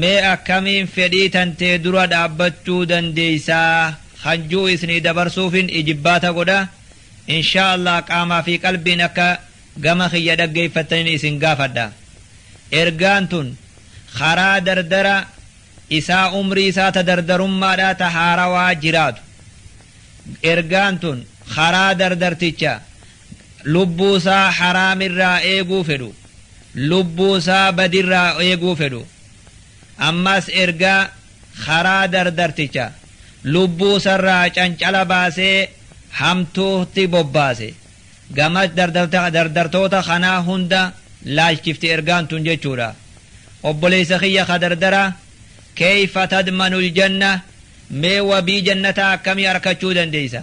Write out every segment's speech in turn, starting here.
Mee akkamiin fedhii tantee dura dhaabbachuu dandeeysa kan ji'u isnii dabarsuufin ijibbaata godha. Inshaa Allaah qaamaa fi qalbiin akka gama kiyya dhaggeeyfattanin isin gaafadha. Ergaan tun karaa dardara isaa umrii isaa ta dardarummaadhaa ta haarawaa jiraatu. Ergaan tun karaa dardarticha lubbuusaa haraamirraa eeguu fedhu lubbuusaa badirraa eeguu fedhu ammas ergaa karaa dardarticha lubbuusarraa cancala baasee hamtuutti bobbaase gama dardartoota kanaa hunda laalchifti ergaan tun jechuudha obboleessa kiyya ka dardara keeyfa tadmanul janna mee wabii jannataa akkamii arkachuu dandeeysa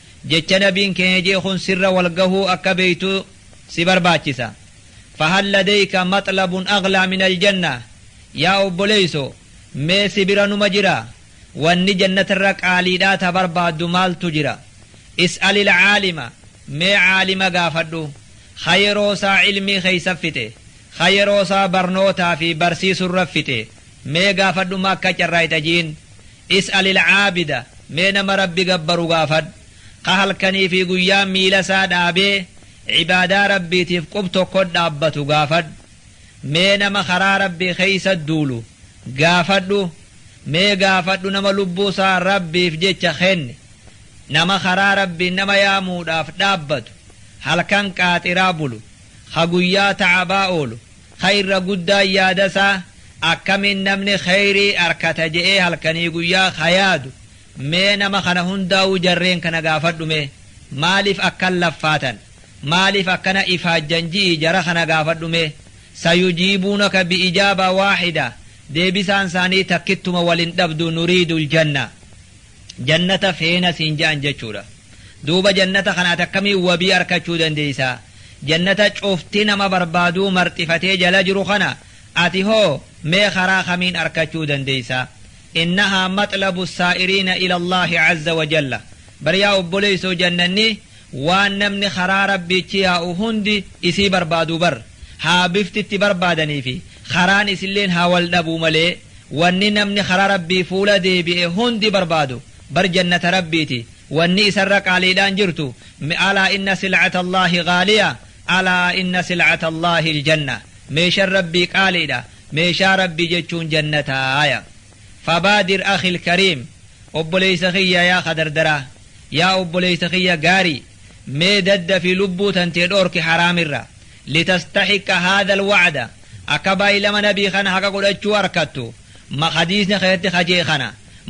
Jecha Nabiin keenya je'e kun sirra wal gahuu akka beeytu si barbaachisa. Fahal ladayka maxlabun aghlaa minal jannah? Yaa obboleeyso, mee si bira numa jira? Wanni jannatarra qaaliidhaa ta barbaaddu maaltu jira? Is'alil aalima, mee aalima gaafadhu. Kha yeroosaa ilmii keeysa fixe. Kha yeroosaa barnootaa fi barsiisurra fixe. Mee gaafadhu Makka carraa itajiin Is'alil aabida Mee nama Rabbi gabbaru gaafadhu Ka halkanii fi guyyaa miila isaa dhaabee Ibaadaa Rabbiitiif qub tokkot dhaabbatu gaafadhu Mee nama karaa Rabbii keeysat duulu gaafadhu Mee gaafadhu nama lubbuu isaa Rabbiif jecha kenne Nama karaa Rabbiin nama yaamuudhaaf dhaabbatu Halkan qaaxiraa bulu Ka guyyaa ta'abaa oolu Khayra guddaan yaada isaa akkamiin namni khayrii arkata je'ee halkanii guyyaa kha yaadu mee nama khana hundaawuu jarreen khana gaafadhu mee maaliif akkan laffaatan maaliif akkana ifaajjan ji'ii jara khana gaafadhu mee sayujiibuunaka bi ijaaba waahida deebisaan isaanii takkittuma wal hin dhabdu nuriidul janna Jannata feena siin ja'an jechuudha. Duuba jannata kana ati akkamiin wabii arkachuu dandeeysa? Jannata cufti nama barbaaduu marxifatee jala jiru kana ati hoo mee karaa kamiin arkachuu dandeeysa? Innahaa maxlabu saa'iriina ila Allaahi azza wa jalla. Bar yaa obboleeysoo jannanni Waan namni karaa Rabbiitti yaa'u hundi isii barbaadu bar, haa bifti itti barbaadanii fi karaan isilleen haa wal dhabuu malee, wanni namni karaa Rabbii fuula deebi'e hundi barbaadu bar jannata Rabbiiti, wanni isarra qaaliidhaan jirtu, me alaa inna sil'ata Allaahi ghaaliya, alaa inna sil'ata Allaahi al-janna, meeshan Rabbii qaaliidha, meeshaa Rabbii jechuun jannataaya. Fabaadir akhil kariim obboleeysa khiyya yaa kha dardaraa yaa obboleeysa khiyya gaarii mee daddafi lubbuu tantee dhoorki haraamirra litastahiqqa haadhal wacda akka baay'lama nabii khana haqa godhachuu arkattu ma hadiisni kheeysatti kha je'e khana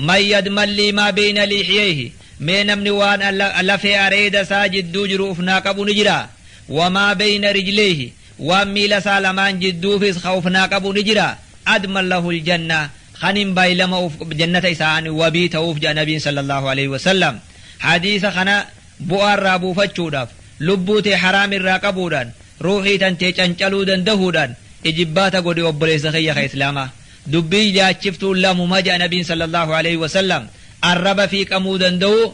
man yadman lii maa beeyna liixiyeeyhi mee namni waan lafee areeda isaa jidduu jiru uf naa qabu ni jiraa wamaa beeyna rijleeyhi Waan miila isaa lamaan jidduufis khawfnaa qabu ni jira. Adman lahul janna, khanin baylama uf jannata isaan wabii ta'uuf ja'a nabiin sallallahu aleyh wasallam. Hadiisa khana bu'aa irraa buufachuudhaaf, lubbuu tee haraam irraa qabuudhaan, ruuhii tantee cancaluu dandahuudhaan ijibbaata godhi obboleessa khiyya kha islaamaa. Dubbiin yaachiftuun lamuma ja'a nabiin sallallahu aleyh wasallam, arraba fiiqamuu dandahuu,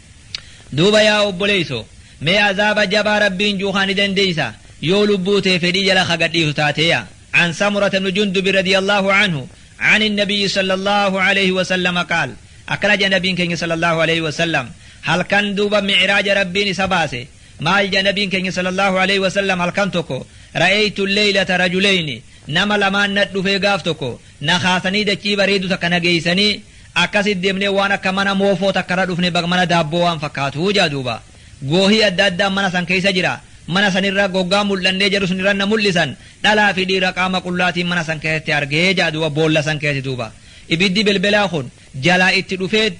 Duuba yaa obboleeysoo! Mee azaaba jabaa Rabbiin ji'u kana ni dandeeysaa? Yoo lubbuu tee fedhii jala ka gad dhiisu taate yaa. An Samurata ibnu Jundubi radiyallaahu anhu an innabiyyi sallallaahu aleeyhi wasallama qaal, Akkana jedhe Nabiin keenya sallallaahu aleeyhi wasallam, Halkan duuba mi'iraaja Rabbiin isa baase, maal jedhe Nabiin keenya sallallaahu aleeyhi wasallam halkan tokko, Ra'eeytu alleeylata rajuleyni, Nama lamaan nat dhufee gaaf tokko, na kaasanii dachii bareedduu takka na geeysanii, Akkasiit deemnee waan akka mana moofoo takka irra dhufne bag mana daabboo waan fakkaatu jedha duuba. Goohii adda addaan mana san keessa jira. Mana san irra goggaa mul'annee jarri sun irra na mul'isan. Dhalaa fi dhiira qaama qullaatiin mana san keessatti arge jedha duuba boolla san keessatti duuba. Ibiddi belbelaa kun jalaa itti dhufeet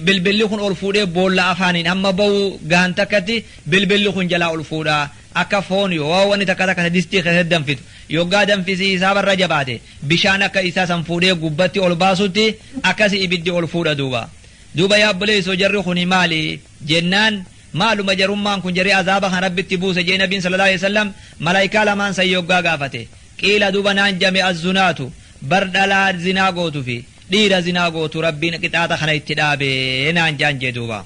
belbelli kun ol fuudhee boolla afaaniin hamma bahu gahan takkatti belbelli kun jalaa ol fuudha. Akka foon yo wani takka takka ta distii keessatti danfitu yoggaa danfisi hisaaba irra jabaate bishaan akka isaa san fuudhee gubbatti ol baasutti akkasi ibiddi ol fuudha duuba. Duuba yaa obboleeysoo jarri kuni maali? Jennaan maaluma jarummaan kun jarri azaaba kan Rabbitti buuse jee nabiin sallallahu aleyhi wasallam malaaykaa lamaan san yoggaa gaafate. Qiila duuba naan jame azzunaatu bar dhalaa zinaa gootu fi dhiira zinaa gootu Rabbiin qixaaxa kana itti dhaabe naan jaan jee duuba.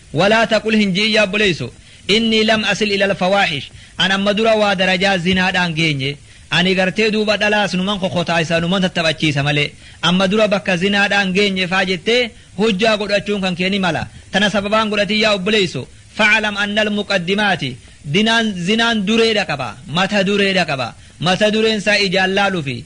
Walaa taqul hin ji'in yaa obboleesso, innii lam asil ilal fawaahish, an amma dura waa darajaa zinaadhaan geenye, ani gartee duuba dhalaas numan kokotaaysa numan tattaphachiisa malee, amma dura bakka zinaadhaan geenye faa jettee hujjaa godhachuun kan kee ni mala, tana sababaan godhatin yaa obboleesso, fa'alam annal muqaddimaati, dinaan, zinaan dureedha qaba, mata dureedha qaba, mata dureen isaa ijaan laalufi,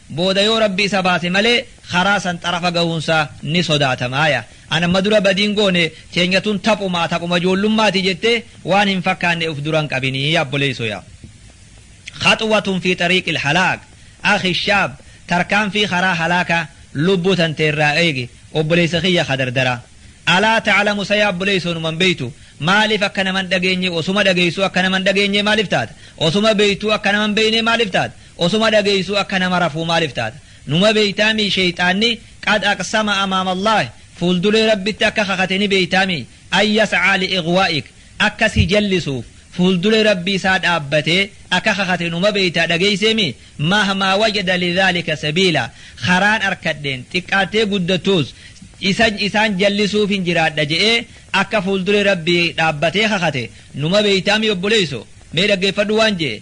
booda yoo Rabbi isa baase malee karaa san xarafa gahuunsaa ni sodaatama. Aya an amma dura badii hin goone teenya tun taphumaa taphuma ijoollummaati jettee waan hin fakkaanne uf dura hin qabini yaa obboleeysoo yaa khaxwatun fi xariiqil halaak akhi shaab tarkaanfii karaa halaakaa lubbuu tantee irraa eegi obboleeysa kiyya ka dardaraa alaa ta'lamu sa yaa obboleeysoo numan beeytu maaliif akka naman dhageenye osuma dhageeysuu akka naman dhageenye maaliif taata osuma beeytuu akka naman beeynee maaliif taata osuma dhageeysuu akka nama rafuu maalif taata numa beeytaa mii sheeyxaanni qad aqsama amaama allaahi fuuldulee rabbitti akka kakate ni beeytaa mii an yas'aa li ighwaa'ik akka si jallisuuf fuuldulee rabbii isaa dhaabbatee akka kakate numa beeytaa dhageeysee mii mahmaa wajada li dhaalika sabiilaa karaan arkadheen xiqqaattee guddattuus isa isaan jallisuufin jiraadha je'ee akka fuuldulee rabbii dhaabbatee kakate numa beeytaa mii obboleeyso mee dhaggeeffadhu waan je'e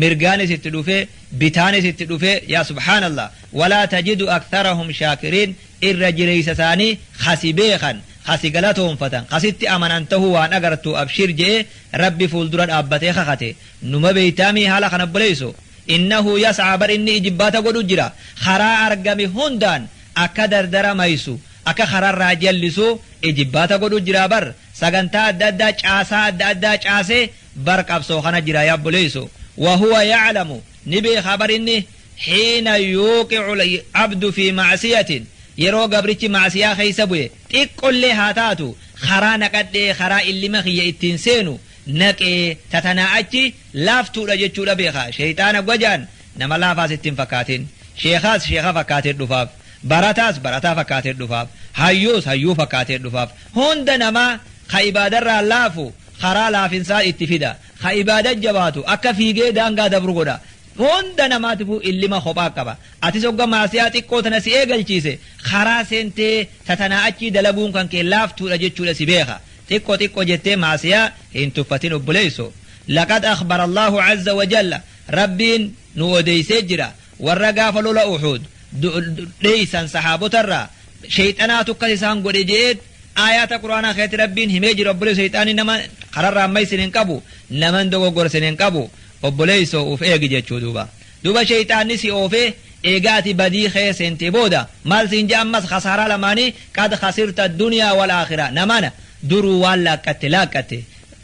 mirgaanis itti dhufee bitaanis itti dhufee yaa subhaanallah walaa tajidu aktharahum shaakiriin irra jireeysa isaanii ka si beekan ka si galatoonfatan ka sitti amanan tahuu waan agartuu abshiir je'ee rabbi fuuldura dhaabbatee kakate numa beeytaamii haala kana obboleeyso innahu yas'aa bar inni ijibbaata godhu jira karaa argame hundaan akka dardara maysu akka kararraa jallisu ijibbaata godhu jira bar sagantaa adda addaa caasaa adda addaa caasee bar qabsoo kana jira yaa obboleeyso wahuwa yaclamu ni beekaa bar inni xiina yuuqicu abdu fi macsiyatin yeroo gabrichi macsiyaa keeysa bu'e xiqqollee haa taatu karaa naqadhee karaa illima kiyya ittiin seenu naqee tatanaa achi laaftuudha jechuudha beekaa sheeyxaana gwajaan nama laafaas ittiin fakkaatin sheekaas sheeka fakkaatee dhufaaf barataas barataa fakkaatee dhufaaf hayyuus hayyuu fakkaatee dhufaaf hunda namaa ka ibaadarraa laafu karaa laafinsaa itti fida, ka ibaada jabaatu akka fiigee daangaa dabru godha. Hunda namaatifuu illima kophaa qaba. Atis hogga maasiyaa xiqqoo tana si eegalchiise, karaa seentee ta tanaa achii dalaguun kan kee laaftuudha jechuudha si beekha. Xiqqo xiqqo jettee maasiyaa hin tuffatin obboleesso. Laqad akhbara Allaahu azza wa jalla, Rabbiin nu odeeysee jira, warra gaafa lola Uhuud dheeysan sahaabotarraa, sheyxanaatu akkas isaan godhe je'eet Aayaata qur'aanaa keessatti Rabbiin himee jira obboleesso sheyxaanni nama kararraa amma isin hin qabu naman dogoggora isin hin qabu obboleesso uf eegi jechuu duuba duuba sheyxaanni si oofee eegaa ati badii keessa seentee booda maal siin ja'a ammas kasaaraa lamaanii qad khasirta duniyaa wal aakhiraa namana duruu waan laaqqatte laaqqatte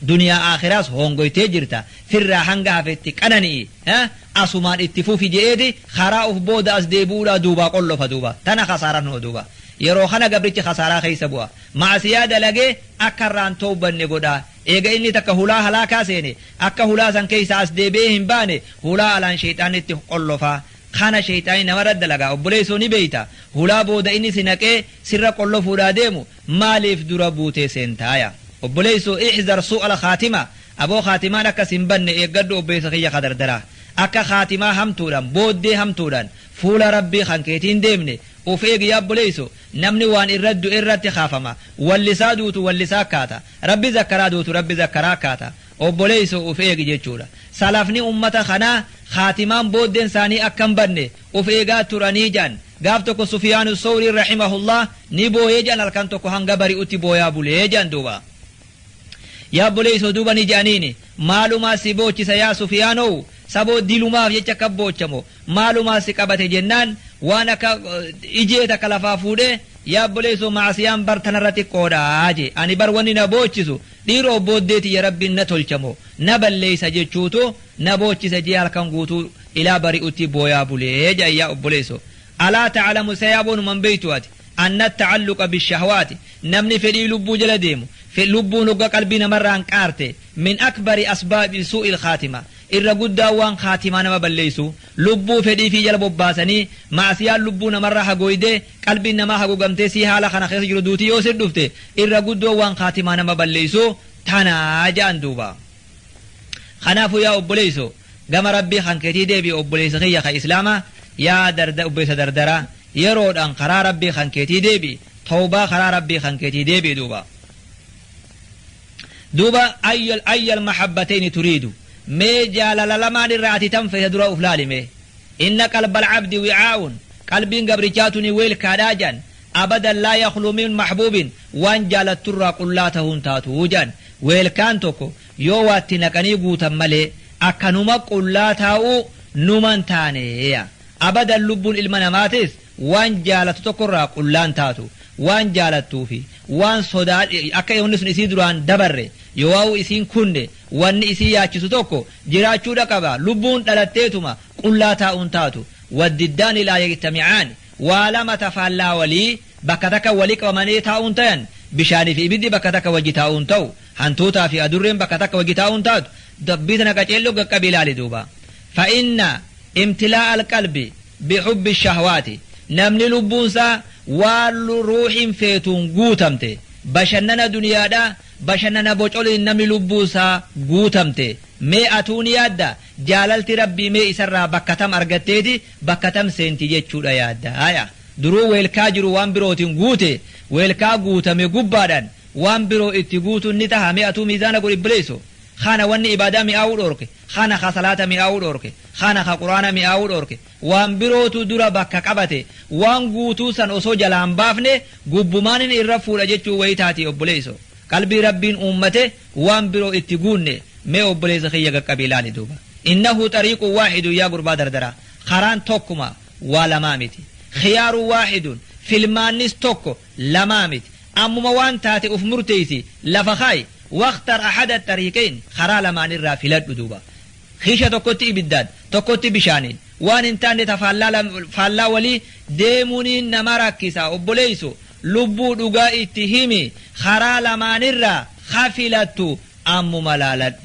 Duniyaa Aakhiras hoongoytee jirta, firraa hanga hafe itti qanani'i, ha, asumaan itti fufi je'eeti karaa uf booda as deebi'uudhaa duubaa qollofa duuba. Tana khasaaran hoo duuba. Yeroo khana gabrichi khasaaraa kheeysa bu'a. Ma'asiyaa dalagee akka irraa hin towbanne godha. Eega inni takka hulaa halaakaa seene, akka hulaa san kheeysaa as deebi'ee hin baane, hulaa alaan sheyxaanni itti qollofa. Khana sheyxaanni nama irratti dalaga. Obboleeysoo ni beeyta, hulaa booda inni si naqee sirra qollofuudhaa deemu, Maaliif dura buutee seentaa yaa obboleessoo ihzar suu al khaatima aboo khaatimaan akka sin badne eeggadhu obboleessa kiyya kadardaraa akka khaatimaa hamtuudhaan booddee hamtuudhaan fuula rabbii kan keetii hin deemne uf eegi yaa obboleesso namni waan irra du'e irratti kaafama wallisaa duutu wallisaa akkaata rabbi zakkaraa duutu rabbi zakkaraa akkaata obboleesso uf eegi jechuudha salafni ummata kanaa khaatimaan booddeen isaanii akka hin badne of eegaa turanii jedhan. Gaaf tokko Sufyaanu Sawriin rahimahullah ni booye jedhan halkan tokko hanga bari'utti booyaa bule jedhan duuba. Yaa obboleessoo duuba ni jedhaniini maalumaa si boochisa yaa Sufyaanoo saboo dilumaaf jecha akka boochamo maalumaa si qabate jennaan waan akka ijee takka lafaa fuudhee yaa obboleessoo maasiyaan bar tanarra xiqqoodhaa jee ani bar wanni na boochisu dhiiroo booddeeti ya rabbiin na tolchamo na balleessa jechuutu na boochisa jee halkan guutuu Ilaa bari'utii booyaa bulee jedhan yaa obboleesso alaa ta'alamu sa yaaboo numa hin beektuu ati anna ta'alluqa bishahwaati namni fedhii lubbuu jala deemu fe lubbuun hogga qalbii namarraa hanqaarte min akbari asbaabi suu'il khaatima irra guddaa waan khaatimaa nama balleessu lubbuu fedhii fii jala bobbaasanii ma'asiyaan lubbuu namarraa hagooydee qalbiin namaa hagogamtee sii haala kana keessa jiru duutii yoo sir dhufte irra guddoo waan khaatimaa nama balleessu tanaa jedhan duuba kanaafuu yaa obboleesso Gama Rabbii kan keetii deebi'i obboleessa kiyya kan Islaamaa, yaa darda obboleessa dardaraa, yeroodhaan karaa Rabbii kan keetii deebi'i, tawbaa karaa Rabbii kan keetii deebi'i duuba. Duuba ayyal ayyal mahabbatayni turiidu, mee jaalala lamaan irraa ati tan feeta dura uf laali mee. Inna qalbal abdi wi'aa'un, qalbiin gabrichaa tuni weelkaadhaa jedhan, abadan laa yakhlu min mahbuubin, waan jaalattu irraa qullaa tahuu hin taatu jedhan. Weelkaan tokko Yoo waa itti naqanii guutan malee akkanuma qullaa taa'uu numa hin taane. Abadan lubbuun ilma namaatis waan jaalattu tokko irraa qullaa hin taatu. Waan jaalattuu fi waan sodaa akka wanni sun isii duraan dabarre yoowaa'uu isiin kunne wanni isii yaachisu tokko jiraachuudha qaba. Lubbuun dhalatteetuma qullaa taa'uu hin taatu. Waddiddaani laa yajtami'aani. Waa lama ta faallaa walii bakka takka wali qabamanii taa'uun tayan, bishaanii fi ibiddi bakka takka wajji taa'uun ta'u, hantuutaa fi adurreen bakka takka wajji taa'uun taatu, dubbii tana qaceello gaqqabi ilaali duuba. Fa inna imtilaa'a alqalbi bi hubbi ashahwaati, namni lubbuun isaa waan ruuhiin feetuun guutamte, bashannana duniyaadha, bashannana bocoliin namni lubbuu isaa guutamte, mee atuu ni yaadda, jaalalti Rabbii mee isarraa bakka tam argatteeti, bakka tam seenti jechuudha yaadda? Haya, duruu weelkaa jiru waan birootiin guute, weelkaa guutame gubbaadhaan waan biroo itti guutuun ni taha? Mee atuu miizaana godhi bblleesso. Khana wanni ibaadaa mi'aawuu dhoorke, khana kha salaata mi'aawuu dhoorke, khana kha quraana mi'aawuu dhoorke, waan birootu dura bakka qabate, waan guutuu san osoo jalaa hin baafne gubbumaanin irra fuudha jechuu wayitaati obboleesso. Qalbii Rabbiin uummate waan biroo itti guunne mee obboleessa kiyya qaqqabii ilaali duuba innahu xariiqun waahidun yaa gurbaa dardaraa karaan tokkuma waa lamaa miti khiyaarun waahidun filmaannis tokko lamaa miti ammuma waan taate uf murteeysi lafa kaayi waqtar ahada xariiqayn karaa lamaanirraa filadhu duuba kiisha tokkotti ibiddaan tokkotti bishaaniin waan hin taanne ta faallaa lam- faallaa walii deemuuniin nama rakkisa obboleeysu Lubbuu dhugaa itti himi karaa lamaan irraa ka filattu ammuma laaladhu.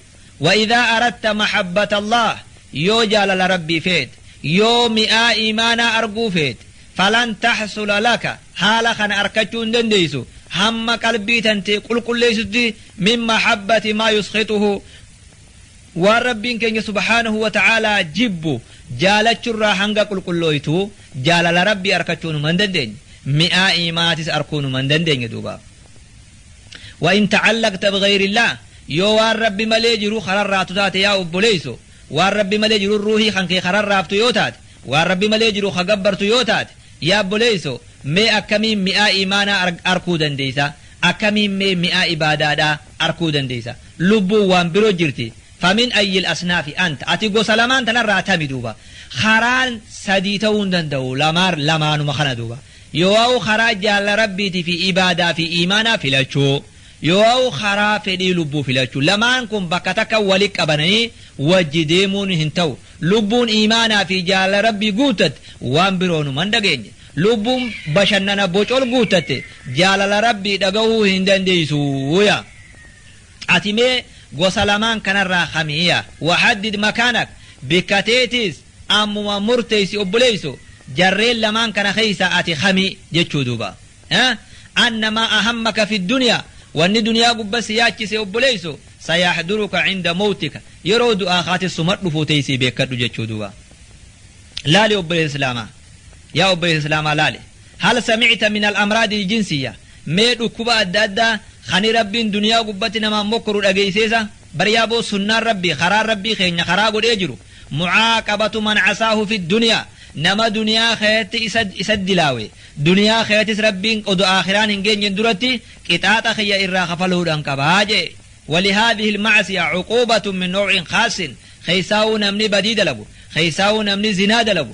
Wa'idhaa aratta mahabbatallaahi yoo jaalala Rabbii feete, yoo mi'aa iimaanaa arguu feete, falan tahsula laka haala kana arkachuu hin dandeessu hamma qalbii tantee qulqulleessutti min mahabbati maa yuskhixuhu Waan Rabbiin keenya subhaanahu wa ta'aalaa jibbu jaalachurraa hanga qulqullooytu jaalala Rabbii arkachuu numa hin dandeenye. Mi'aa iimaatis arkuu numa hin dandeenye duuba. Wa in ta'allaqta bighayrillaah yoo waan Rabbi malee jiru kararraatu taate yaa obboleeyso waan Rabbi malee jiru ruuhii kan kee kararraaftu yoo taate waan Rabbi malee jiru ka gabbartu yoo taate yaa obboleeyso mee akkamiin mi'aa iimaanaa arkuu dandeeysa Akkamiin mee mi'aa ibaadaadhaa arkuu dandeeysa? Lubbuun waan biro jirti. Famin ayyil asnaafi anta? Ati gosa lamaan tanarraa tami duuba? Karaan sadii ta'uu hin danda'u, lamaar lamaanuma kana duuba. Yoo'aw karaa jaalala Rabbiiti fi ibaadaa fi iimaanaa filachuu, yoo'aw karaa fedhii lubbuu filachuu. Lamaan kun bakka takka wali qabananii wajji deemuun hin ta'u. Lubbuun iimaanaa fi jaalala Rabbii guuttatte, waan biroonuma hin dhageenye. Lubbuun bashannana bocol guuttatte jaalala Rabbii dhagahuu hin dandeessu. ya. Ati mee gosa lamaan kanarraa kami? ya. Wahaddid makaanak bikka teetis ammuma murteessi obboleesso jarreen lamaan kana keessaa ati kami? jechuu duuba. ya. Anna maa ahammaka fi dunya wanni duniyaa gubba si yaachise obboleesso sayahduruka inda mowtika yeroo du'aa kaatis suma dhufuu teessii beekkadhu jechuu duuba. Laali obboleessa islaamaa. Yaa obboleessa Islaamaa laali. Hal samicta min al-amraadi al-jinsiyya? Mee dhukkuba adda addaa kani Rabbiin duniyaa gubbatti namaan mokkoru dhageeyseesa? Bar yaa boo sunnaan Rabbii, karaan Rabbii keenya karaa godhee jiru, mucaaqabatu man casaahu fi duniyaa, nama duniyaa keeyatti isa, isa dilaawe, duniyaa keeyattis Rabbiin odo aakhiraan hin geenyen duratti qixaaxa kiyya irraa kafaluudhan qaba je'e. Walihaadhihi al-macsiya cuquubatun min nawcin khaassin, keeysaawuu namni badii dalagu, keeysaawuu namni zinaa dalagu,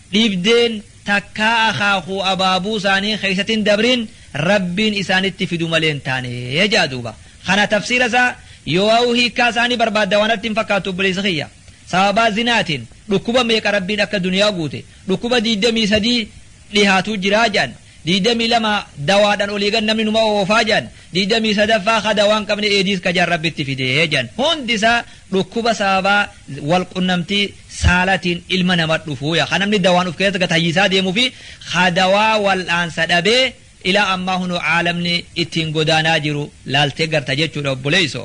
Dhibdeen takkaa akaakuu abaabuu isaanii keessatti hin dabrin Rabbiin isaanitti fidu malee hin taane ja'a duuba. Kana tafsiira isaa yoo'aa'uu hiikkaa isaa ni barbaadda waan natti hin fakkaattu obboleessa kiyya. Sababaa zinaatiin dhukkuba meeqa Rabbiin akka duniyaa guute dhukkuba 23 dhihaatuu jiraa ja'an. 22 dawaadhan olii gad namni numa oofaa jedhan 23ffaa ka dawaan qabne eediis ka jedhan rabbitti fide jedhan hundi isaa dhukkuba sababaa wal qunnamtii saalatiin ilma nama dhufuu yaa ka namni dawaan of keessatti gad hayyisaa deemuu fi ka dawaa wal'aansa dhabee ilaa ammaa hunoo caalamni ittiin godaanaa jiru laaltee garta jechuudha obboleeyso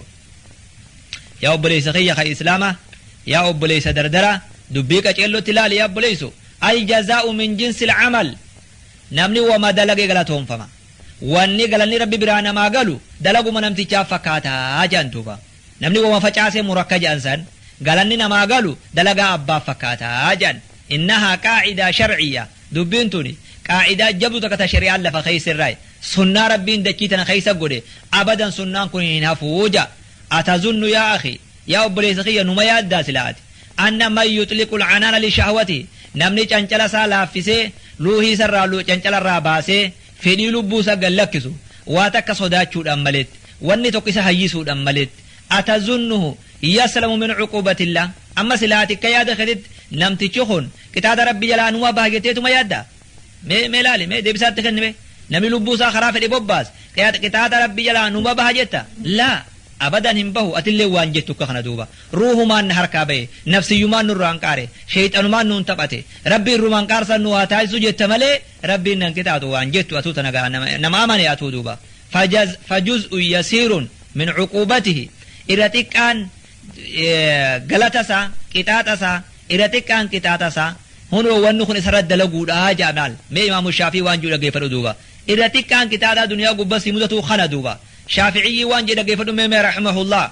yaa obboleeysa kiyya ka islaama yaa obboleeysa dardara dubbii qaceellootti laali yaa obboleeyso aljazaa'u min jinsi alcamal Namni woma dalage galatoomfama. Wanni galanni Rabbi biraa namaa galu dalaguma namtichaaf fakkaata jedhan duuba. Namni woma facaase muru akka jedhan san galanni namaa galu dalagaa abbaaf fakkaata jedhan. Innahaa qaa'idaa shar'iyya. Dubbiin tuni qaa'idaa jabdu takka ta shari'aan lafa keesse irraayi. Sunnaa Rabbiin dachii tana keessa godhe abadan sunnaan kun hin hafu jedha. Atazunnu yaa akhii. Yaa obboleessa kiyya numa yaaddaa sila ati? Anna man yuxliqu lcanaana lishahwati Namni cancala isaa laaffisee, luuhii isa irraa lu cancala irraa baasee, fedhii lubbuu isaa gad lakkisu, waa takka sodaachuudhaan maletti, wanni tokko isa hayyisuudhaan maletti, atazunnuhu yaslamu min cuquubatillaah? Amma sila ati akka yaada keetitti namtichi kun qixaata Rabbii jalaa numa baha jetteetuma yaaddaa? Mee mee laali mee deebisaa itti kenni mee namni lubbuu isaa karaa fedhe bobbaas qiyaaxa qixaaxa rabbi jalaa numa baha jetta laa abadan hin bahu atillee waan jettu akka kana duuba ruuhumaan na harkaa ba'e nafsiyyumaan nurraan qaare sheeyxanumaan nuun taphate rabbi irrumaan qaarsan nu haa taasisu jetta malee rabbiin nan qixaaxu waan jettu atuu tana gaha nama nama amane atuu duuba fajaz fajuz'u yasiirun min cuquubatihi irra xiqqaan galata isaa qixaaxa isaa irra xiqqaan qixaaxa isaa hunoo wanni kun isarra dalaguudha ja'a maal mee imaamu shaafii waan jiru dhageeffadhu duuba irra xiqqaan qixaaxaa duniyaa gubbaa si mudatu kana duuba shaafi'iyyii waan jedhe dhageeffadhu mee mee rahimahullah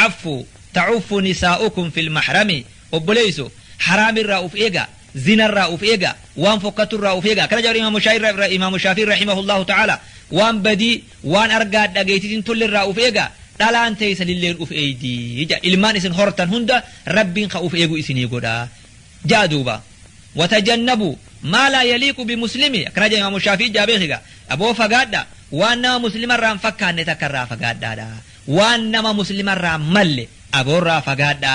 affu ta'uffu nisaa'ukum fil mahrami obboleeyso haraamirraa uf eegaa Zina irraa uf eegaa, waan fokkattu irraa uf eegaa. Akkana jedha Imaamu Shaafi'i Imaamu Shaafi'i rahimahullahu ta'aala waan badii waan argaa dhageettii hin tolle irraa uf eegaa dhalaan teessan illeen uf eeydi jedha. Ilmaan isin hortan hunda Rabbiin ka uf eegu isinii godha. Ja'a duuba. Watajannabu maa laa yaliiqu bimuslimi akkana jedha Imaamu Shaafi'i ja'a beekiga. Aboo fagaadha waan nama muslima irraa hin fakkaanne takka irraa fagaadhaadha. Waan nama muslima irraa hin malle aboo irraa fagaadha.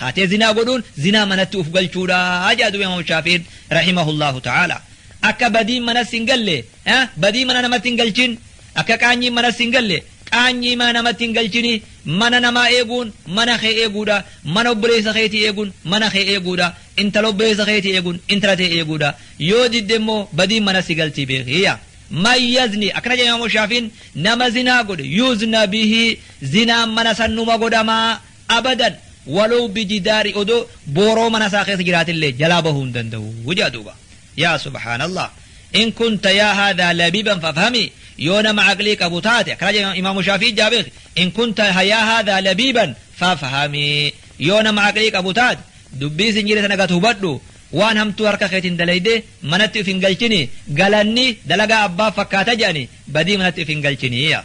kaatee zinaa godhuun zinaa manatti uf galchuudha jedha duuba imaamu shaafiin rahimahullahu ta'ala akka badiin manas hin galle badii mana namatti hin galchin akka qaanyiin manas hin galle qaanyii mana namatti hin galchini mana namaa eeguun mana kee eeguudha mana obboleessa keetii eeguun mana kee eeguudha intala obboleessa keetii eeguun intala tee eeguudha yoo didde immoo badiin manas si galtii beekiyya man yazni akkana jedha imaamu shaafiin nama zinaa godhe yuuzna bihi zinaan mana sannuma godhamaa Abadan! Walow bijidaari odoo booroo mana isaa keessa jiraatillee jalaa bahuu hin danda'u jedha duuba. Yaa subhaanallaah! In kunta yaa haadhaa labiiban fafhami Yoo nama aqlii qabu taate akkana jedha Imaamu Shaafi'ii jaa beeki In kunta yaa haadhaa labiiban fafhami Yoo nama aqlii qabu taate dubbii sin jedhe tana gad hubadhu Waan hamtuu harka keetiin dalaydee manatti uf hin galchini Galanni dalagaa abbaaf fakkaata jedhani badii manatti uf hin galchini yaa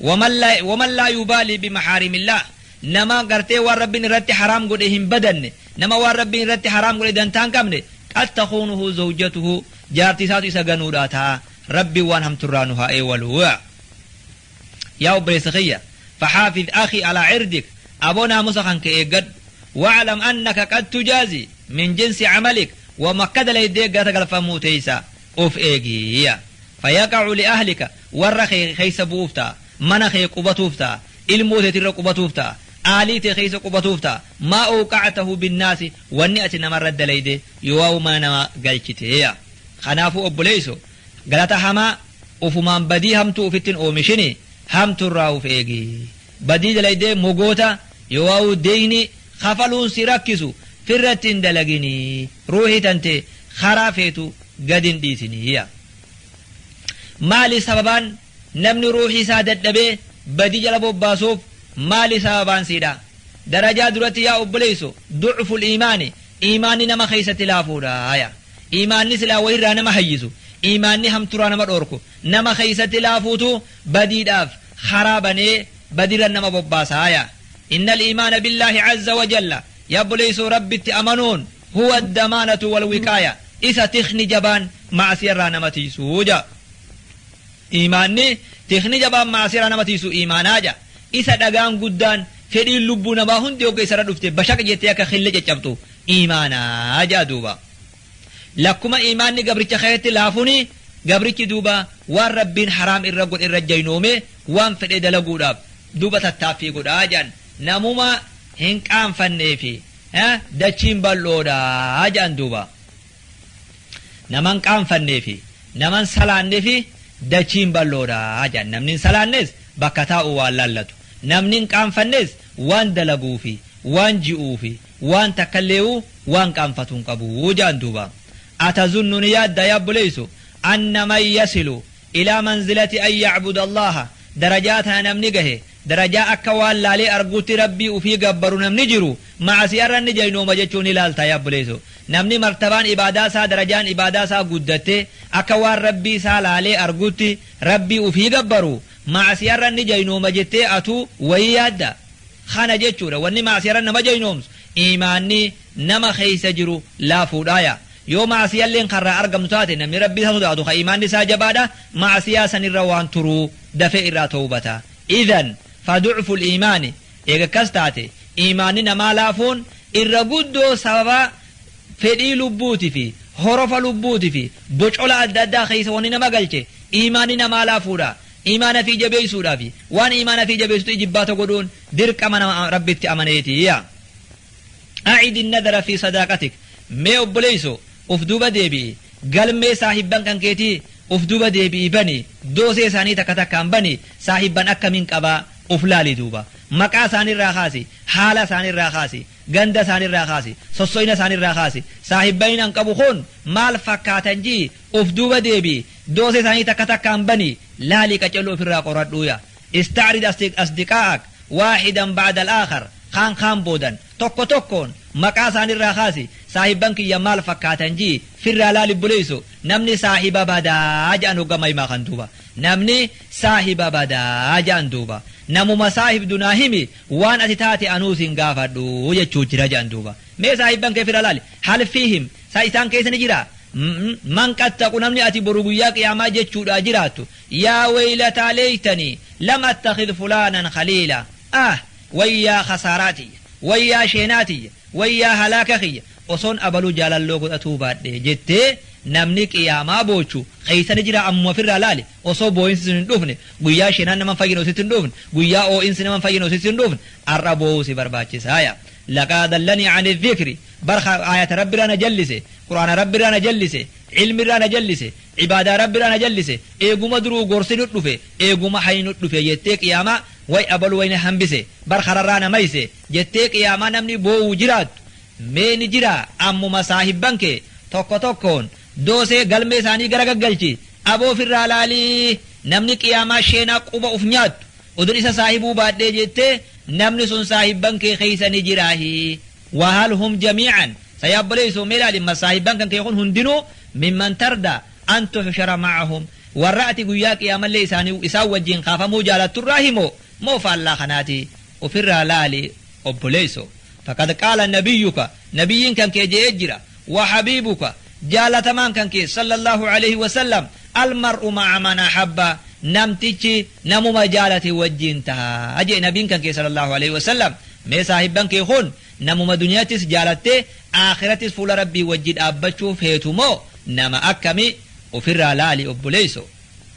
Waman la waman laa yubaalii bimahaarimillaah Nama gartee waan Rabbiin irratti haraam godhe hin badanne, nama waan Rabbiin irratti haraam godhe dantaa hin qabne, qad takuunuhu zawjatuhu jaartii isaatu isa ganuudhaa ta'a. Rabbiin waan hamtu irraa nu haa eewalu. Yaa obboleessa kiyya! Faxaafiz akhii alaa cirdik Aboo naamusa kan kee eeggadhu. Waclam annaka qad tujaazii min jinsi camalik wama akka dalaydee gata galfamuu teeysa. Of eegi. Yaa. Fayaqa'u li'ahlika, warra kee keessa bu'uuf ta'a. Mana kee qubatuuf ta'a. Ilmoo teetirra qubatuuf ta'a. Aalii tee keessa qubatuuf ta'a. Maa awqa'atahu binnaasi, wanni ati namarra dalayde yooawu mana namaa galchite. Yaa. Kanaafuu obboleeysoo, galata hamaa, ufumaan badii hamtuu ufittin oomishini, hamturraa uf eegi. Badii dalaydee mogoota yowauu deeyni kafaluun si rakkisu firratti hin dalagini ruuhi tante karaa feetu gad hin dhiisini ya Maali sababaan namni ruuhi isaa dadhabee badii jala bobbaasuuf maali sababaan siidha darajaa duratti yaa obboleeyso ducful iimaani iimaanni nama keeysatti laafuudha ya iimaanni silaa wayirraa nama hayyisu iimaanni hamturaa nama dhoorku nama keeysatti laafuutu badiidhaaf kharaa banee badirra nama bobbaasa aaya innal iimaana billaahi azza wa jalla yabbuleeysuu rabbitti amanuun huwa damaanatu wal wiqaaya isa tikni jabaan macsiyarraa nama tiysu ja iimaanni tikni jabaan macsiyarraa nama tiysu iimaanaa ja isa dhagaan guddaan fedhiin lubbuu namaa hundi hogga isarra dhufte bashaq jettee akka kille caccabxu iimaanaa ja'a duuba Lakkuma iimaanni gabricha keetti laafuuni, gabrichi duuba waan Rabbiin haraam irra godhe irra jaynoomee waan fedhe dalaguudhaaf duuba tattaaffii godha jedhan. Namuma hin qaanfanneefi dachiin bal'oodha jedhan duuba. Nama hin qaanfanneefi, nama hin salaannefi dachiin bal'oodha jedhan. Namni hin salaannes bakka taa'u waan laallatu, namni hin qaanfannes waan dalaguufi, waan ji'uufi, waan takkalle'uu waan qaanfatu hin qabu je'an duuba. Atazunnu ni yaaddaa yaa obboleeysu anna man yasilu ilaa manzilati an ya'buda Allaaha darajaa tana namni gahe darajaa akka waan laalee arguutti Rabbii ufii gabbaru namni jiru ma'asiya'arra inni jaynooma jechu'u ni laaltaa yaa obboleeysu. Namni martabaan ibaadaa isaa darajaan ibaadaa isaa guddatte akka waan Rabbii isaa laalee arguutti Rabbii ufii gabbaru Ma'asiyarra ni jaynooma jettee atuu wayii yaadda? Kana jechuudha wanni ma'asiyarra nama jaynoomsu iimaanni nama keessa jiru laafuudhaaya. Yoo ma'asiyalleen ka irraa argamtu taate namni Rabbi isa sodaatu ka iimaanni isaa jabaadha ma'asiyaa sanirra waan turu dafee irraa towbata. Idhan fa du'ful iimaani eega akkas taate iimaanni namaa laafuun irra guddoo sababa fedhii lubbuuti fi horofa lubbuuti fi bocola adda addaa keessa wanni nama galche iimaanni namaa laafuudha. Iimaana fii jabeeysuudhaa fi waan iimaana fii jabeeysutti ijibbaata godhuun dirqama nama Rabbitti amaneeti. Yaa A'idi nadara fii sadaaqatik Mee obboleeyso uf duuba deebi'i, galmee saahibban kan keetii uf duuba deebi'i bani, doosee isaanii takka takkaan bani, saahibban akkamiin qabaa uf laali duuba. Maqaa isaanii irraa kaasi, haala isaanii irraa kaasi, Ganda isaani irraa kaasi, sosso'ina isaani irraa kaasi, saahibbain an qabu kun maal fakkaatan ji'i, uf duuba deebi'i, doosee isaanii takka takkaan bani, laali qacello uf irraa qoradhu ya. Ista'rid asdiqaa'ak waahidan ba'da al-aakhar, kaan kaan boodan, tokko tokkoon, maqaa isaani irraa kaasi, saahibban kiyya maal fakkaatan ji'i, firraa laali obboleesso, namni saahiba badaa ja'an hogga maimaa kan duuba, namni saahiba badaa ja'an duuba, namuma saahibdu naa himi, waan ati taate anuu sin gaafadhu jechuu jira jedhan duuba mee saahibban kee fira laali hal fiihim sa isaan keessa ni jira man qad taqu namni ati boru guyyaa qiyaamaa jechuudha jiraattu yaa weylataa leeytanii lam attakid fulaanan khaliila ah wayyaa khasaaraa tiyya wayyaa sheenaa tiyya Wayyaa halaaka kiyya! Osoon abaluu jaalalloo godhatuu baadhee! jettee namni qiyaamaa boochu keessa ni jiraa? Ammuma ofirraa laali! Osoo booyinsi sun hin dhufne, guyyaa shenaan nama hin fayyine osoo sitti hin dhufne, guyyaa oo'insi nama hin fayyine osoo sitti hin dhufne, ar'a boo'uu si barbaachisaaya. Laqaa dallanii ani dhikri! Bar ka aayata Rabbi irraa na jallise, Qur'aana Rabbi irraa na jallise, ilmi irraa na jallise, ibaadaa Rabbi irraa na jallise, eeguma duruu gorsi nut dhufe, eeguma hayni nut dhufe jettee qiyaamaa way abalu way na hambise, bar kararraa na mayse, jettee qiyaamaa namni boowu jiraattu mee ni jiraa ammuma saahibban kee tokko tokkoon doosee galmee isaanii gara gaggalchi aboo ofirraa laalii namni qiyaamaa sheenaa quba uf nyaattu odun isa saahibuu baadhee jettee namni sun saahibban kee keessa ni jiraahi wahal hum jamiican sayaa obboleessoo mee laali ma saahibban kan kee kun hundinuu mimman tarda an tuxshara macahum warra ati guyyaa qiyaamallee isaanii isaan wajjiin kaafamuu jaalatturraa himoo moo faallaa kanaatii Ufirraa laali obboleeyso. Faqad qaala nabiyyuka nabiyyiin kan kee je'ee jira. Wa habiibuka jaalatamaan kan kee sallallahu alayhi wa sallam almar'u ma'a man ahabba namtichi namuma jaalate wajjiin taha je'e nabiin kan kee sallallahu alayhi wa sallam mee saahibban kee kun namuma duniyattis jaalattee aakhirattis fuula rabbii wajji dhaabbachuu feetu moo nama akkami ufirraa laali obboleeyso.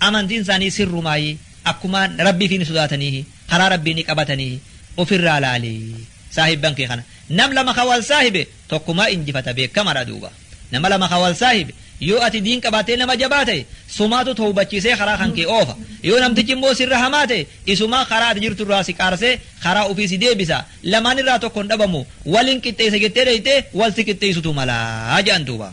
Amantiin isaanii sirrumaayi, akkumaa Rabbiifii ni sodaataniihi, karaa Rabbii ni qabataniihi. Ofirraa laali saahibban kee kana. Nam lama ka wal saahibe tokkumaa injifata beekkamadha duuba. Nama lama ka wal saahibe yoo ati diin qabaattee nama jabaa ta'e sumaatu towbachiisee karaa kan kee oofa. Yoo namtichi immoo sirra hamaa ta'e isumaa karaa ati jirtu irraa si qaarsee karaa ofii si deebisa. Lamaan irraa tokko hin dhabamu. Wal hin qixxeessa jettee dheeyxee wal si qixxeeysutu mala jedhan duuba.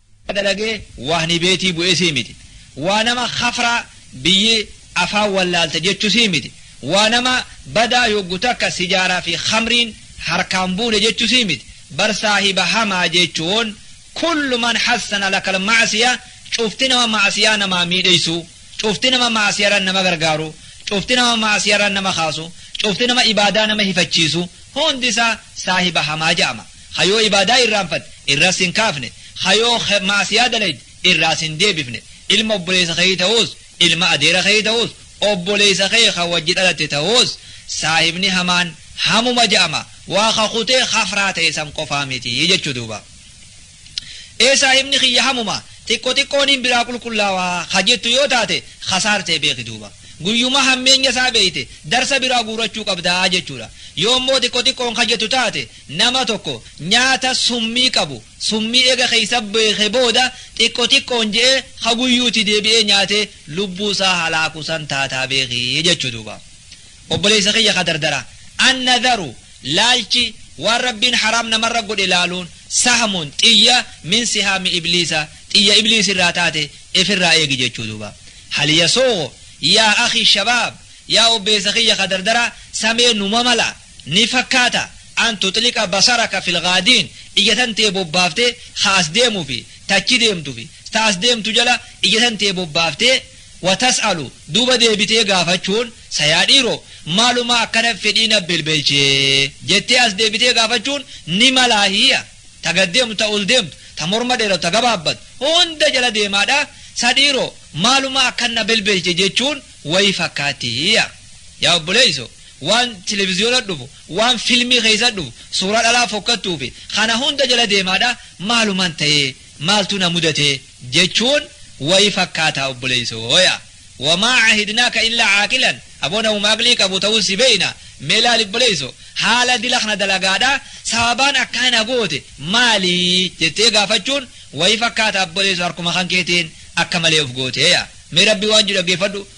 dalagee waani beetii bu'esii miti waa nama kafraa biyyi afaan wallaalta jechusii miti waa nama badaa yoggu takka sijaara fi khamriin harkaan buune jechusii miti bar saahiba hamaa jeechuun kullu man hassana lakal ma'asiya cufti nama ma'asiyaa namaa miidheysuu cufti nama ma'asiyaran nama gargaaru cufti nama ma'asiyaran nama kaasu cufti nama ibaadaa nama hifachiisu hundi isaa saahiba hamaa ja'ama Ka yoo ibaadaa irraanfatte, irraa si hin kaafne, ka yoo khe, ma'asiyaa dalayde, irraa si hin deebifne, ilma obboleessa keetii ta'uus, ilma adeera keetii ta'uus, obboleessa kee ka wajji dhalatte ta'uus, saahibni hamaan hamuma ja'ama, waa ka kutee khafraa ta'e san qofaa miti jechuu duuba. Ee saahibni kiyya hamuma, xiqqo xiqqooniin biraa qulqullaawa, ka jettu yoo taate, khasaartee beeki duuba. Guyyuma hammeenya isaa beeyte, darsa biraa guurachuu qabda jechuudha. Yoo immoo xiqqo xiqqoon ka jettu taate, Nama tokko nyaata summii qabu summii eega keessa beeke booda xiqqo xiqqoon je'ee ka guyyuuti deebi'ee nyaate lubbuu isaa halaaku san taataa beeki jechu duuba. Obboleessa kiyya ka dardara An-nadharu laalchi waan Rabbiin haraam namarra godhe laaluun sahmun xiyya min sihaami ibliisa xiyya ibliisi irraa taate ifirraa eegi jechu duuba. Hal yasuughu yaa akhii shabaab yaa obbeessa kiyya ka dardara samee numa mala? ni fakkaata an tuxliqa basaraka fil ghaadiin ija tan tee bobbaaftee ka as deemu fi ta achi deemtu fi ta as deemtu jala ija tan tee bobbaaftee wa tas'alu duuba deebitee gaafachuun sa yaa dhiiroo maalumaa akkana fedhii na belbelche jettee as deebitee gaafachuun ni malaa hiya ta gad deemtu ta ol deemtu ta morma dheeratu ta gabaabbatu hunda jala deemaadha sa dhiiroo maalumaa akkan na belbelche jechuun wayii fakkaatti hiya yaa obboleeysoo waan televiziyoona dhufu, waan filmii keessa dhufu, suuraa dhalaa fokkattuu fi kana hunda jala deemaadha maaluman ta'e, maaltu na mudate jechuun wayi fakkaata obboleessoo yaa. Wamaa cahidnaaka illaa caaqilan aboo namuma aqlii qabu ta'uu si beeyna mee laali obboleessoo haala dila kana dalagaadha sababaan akkaa na goote maali jettee gaafachuun wayi fakkaata obboleessoo harkuma kan keetiin akka malee of gootee yaa. Mee rabbii waan jedhu dhaggeeffadhu.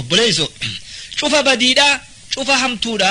obboleesso cufa badiidha cufa hamtuudha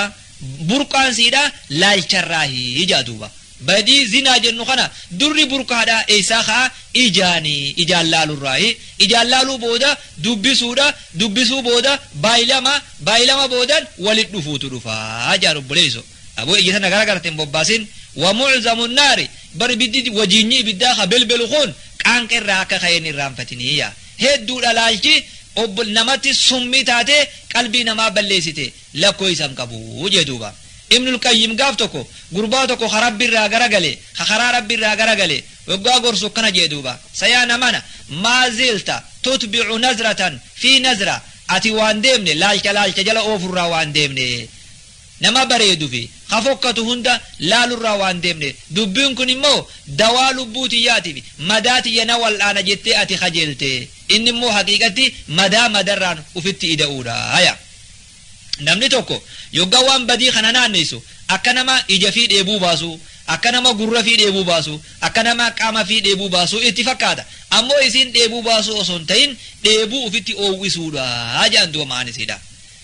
burqaan siidha laalcharraahi ijaa duuba badii zinaa jennu kana durri burqaadha eessaa ka'a ijaani ijaan laalurraahi ijaan laaluu booda dubbisuudha dubbisuu booda baayilama baayilama boodan walit dhufuutu dhufaa jaan obboleesso Aboo ija tana gara garate hin bobbaasin wa mu'zamu nnaari bar ibiddi wajiinyi ibiddaa ka belbelu kun qaanqa irraa akka ka'e hin irraanfatini yaa hedduudha laalchi ob namatti summii taatee qalbii namaa balleessite lakkooysa hin qabu jee duuba ibnul qayyim gaaf tokko gurbaa tokko ka rabbi irraa gara gale ka karaa rabbi irraa gara gale waggaa gorsu akkana jee duuba sayaa namana maa zilta tutbicu nazratan fi nazra ati waan deemne laalcha laalcha jala oofurraa waan deemne nama bareedu fi ka fokkatu hunda laalurraa waan deemneef dubbiin kun immoo dawaa lubbuu tiyyaati fi madaa tiyya na wal'aana jettee ati kajeelte inni immoo haqiiqatti madaa madarraan ufitti ida'uudha haya namni tokko yogga waan badii kana naanneessu akka nama ija fi dheebuu baasu akka nama gurra fi dheebuu baasu akka nama qaama fi dheebuu baasu itti fakkaata ammoo isiin dheebuu baasuu osoo hin ta'in dheebuu ufitti oowwisuudha jedhan du'a ma'aan isiidha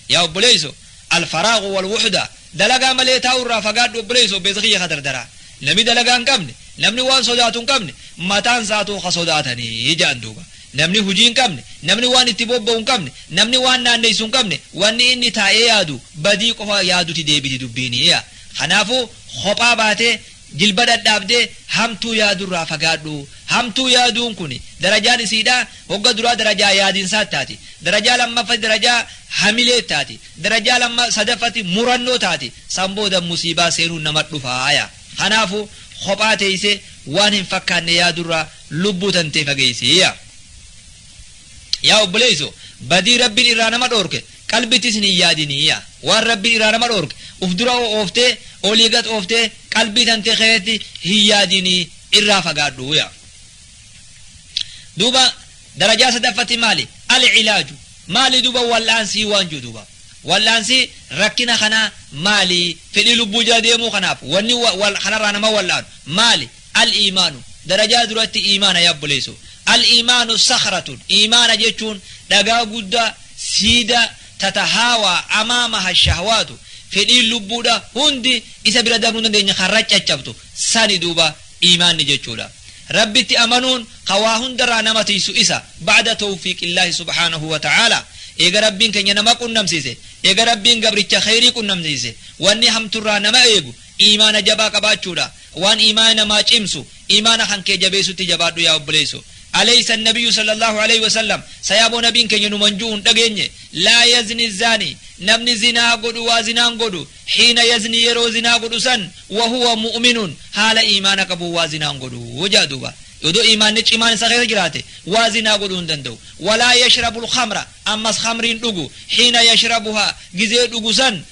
Yaa obboleeyso Alfaraagu wal wuhda dalagaa malee taa'uu irraa fagaadhu obboleeyso obbeesa kiyya ka dardaraa Nami dalagaa hin qabne namni waan sodaatu hin qabne mataan isaatuu ka sodaatani ja'an duuba Namni hujii hin qabne namni waan itti bobba'u hin qabne namni waan naanneysu hin qabne wanni inni taa'ee yaadu badii qofa yaaduti deebiti dubbiini yaa Kanaafu kophaa baatee Jilba dhadhaabdee hamtuu yaadurraa fagaadhu. Hamtuu yaaduun kun darajaan isiidhaa hogga duraa darajaa yaadinsaat taati. Darajaa lammaffati darajaa hamileet taati. Darajaa lamma sadaffati murannoo taati. San booda musiibaa seenuun namat dhufaaya. Kanaafu kophaa teeysee waan hin fakkaanne yaadurraa lubbuu tantee fageeysi. Yaa obboleeyso badii Rabbiin irraa nama dhoorke qalbitis hin yaadini yaa waan rabbiin irraa nama dhoorge uf dura ooftee olii gad ooftee qalbii tantee keessatti hin yaadini irraa fagaadhu yaa duuba darajaa sadaffatti maali al ilaaju maali duuba wal'aansii waan jiru duuba wal'aansii rakkina kanaa maali fedhii lubbuu jala deemuu kanaaf wanni kanarraa nama wal'aanu maali Al-iimaanu, darajaa duratti iimaana yaa obboleesso. Al-iimaanu sakhratun, iimaana jechuun dhagaa guddaa, siidaa, tatahaawaa amaamaha ash-shahwaatu, fedhiin lubbuudha hundi isa bira dabruu hin dandeenye kan raccaccabtu sani duuba iimaanni jechuudha. Rabbitti amanuun kan waa hundarraa nama tiysu isa, ba'da tawfiiqillaahi subhaanahu wa ta'aalaa, eega Rabbiin keenya nama qunnamsiise, eega Rabbiin gabricha kheyrii qunnamsiise, wanni hamturraa nama eegu iimaana jabaa qabaachuudha. Waan iimaana namaa cimsu, iimaana kan kee jabeessutti jabaadhu yaa obboleesso. Aleysa annabiyyu sallallahu aleyhi wa sallam, sayaaboo nabiin keenya numan ju'u hin dhageenye, laa yazni zaani, namni zinaa godhu waa zinaa hin godhu, hiina yazni yeroo zinaa godhu san, wa huwa mu'minun, haala iimaana qabuun waa zinaa hin godhu ja'a duuba. Odoo iimaanni cimaan isa keessa jiraate, waa zinaa godhuu hin danda'u. Walaa yashrabul khamra, ammas khamri hin dhugu, hiina yashrabuhaa, gizee dhugu san,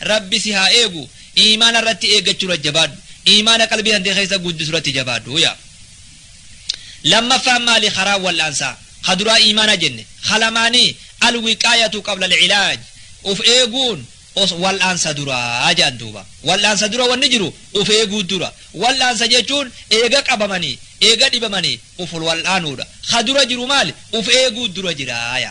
Rabbi si haa eegu iimaana irratti eeggachuurra jabaadhu iimaana qalbii tantee keessa guddisurratti jabaadhu yaa lammaffaan maali karaan wal'aansaa ka duraa iimaana jenne ka lamaanii alwiqaayatu qabla alcilaaj uf eeguun os wal'aansa duraa jedhan duuba wal'aansa dura wanni jiru uf eeguu dura wal'aansa jechuun eega qabamanii eega dhibamanii uf wal'aanuudha ka dura jiru maali uf eeguu dura jiraaya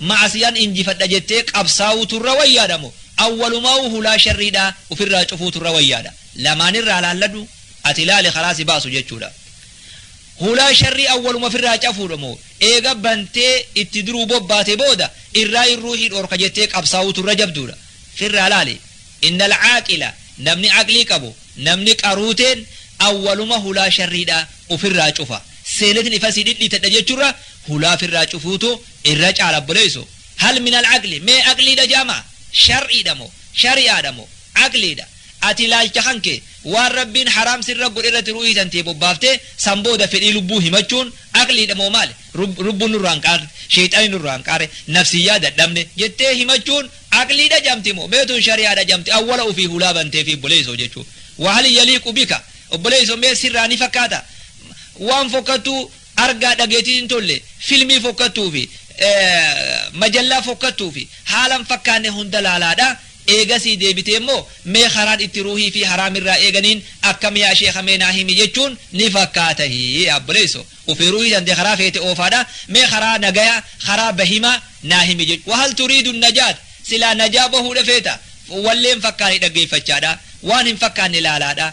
Ma'asiyan injifadha jettee qabsaawuutu irra wayyaadha moo awwalumaawuu hulaa sharriidhaa ufirraa cufuutu irra wayyaadha? Lamaanirraa laalladhu ati laali karaa si baasu jechuudha. Hulaa sharrii awwaluma ofirraa cafuudha moo eega bantee itti duruu bobbaate booda irraayin ruuhii dhoorka jettee qabsaawuutu irra jabduudha? Firraa laali. Innal aaqila namni aqlii qabu, namni qaruuteen awwaluma hulaa sharriidhaa ufirraa cufa. Seeletin ifasii dhidhiitadha jechurra hulaa firraa cufuutu Irra caala obboleesso hal minal aqli mee aqliidha ja'ama? Shar'iidha moo? Shari'aadha moo? Aqliidha. Ati ilaalcha kan kee waan Rabbiin haraam sirra godhe irratti ruuhii tantee bobbaaftee san booda fedhii lubbuu himachuun aqliidha moo maali? Lubbuun nurraa hin qaarre, sheyxaanni nurraa hin qaare, nafsiyyaa dadhabne jettee himachuun aqliidha ja'amti moo? Mee tun shari'aadha ja'amti awwala ufii hulaa banteefii obboleesso jechuun. Wahal yaliiqu bika? Obboleesso mee sirraa ni fakkaata? Waan fokkattuu Argaa dhageetiin hin tolle, filmii fokkattuu fi majallaa fokkattuu fi haala hin fakkaanne hunda laalaadha. Eegasii deebitee immoo mee karaan itti ruuhii fi haraam irraa eeganiin akkam yaa sheekha mee naa himi jechuun ni fakkaata. Hii yaa obboleesso! Ufii ruuhii tante karaa feete oofaadha. Mee karaa nagayaa, karaa bahimaa naa himi jechuun. Wa hal turiidu najaat? Silaa najaa bahuudha feeta? Wallee hin fakkaane dhaggeeffachaadha. Waan hin fakkaanne laalaadha.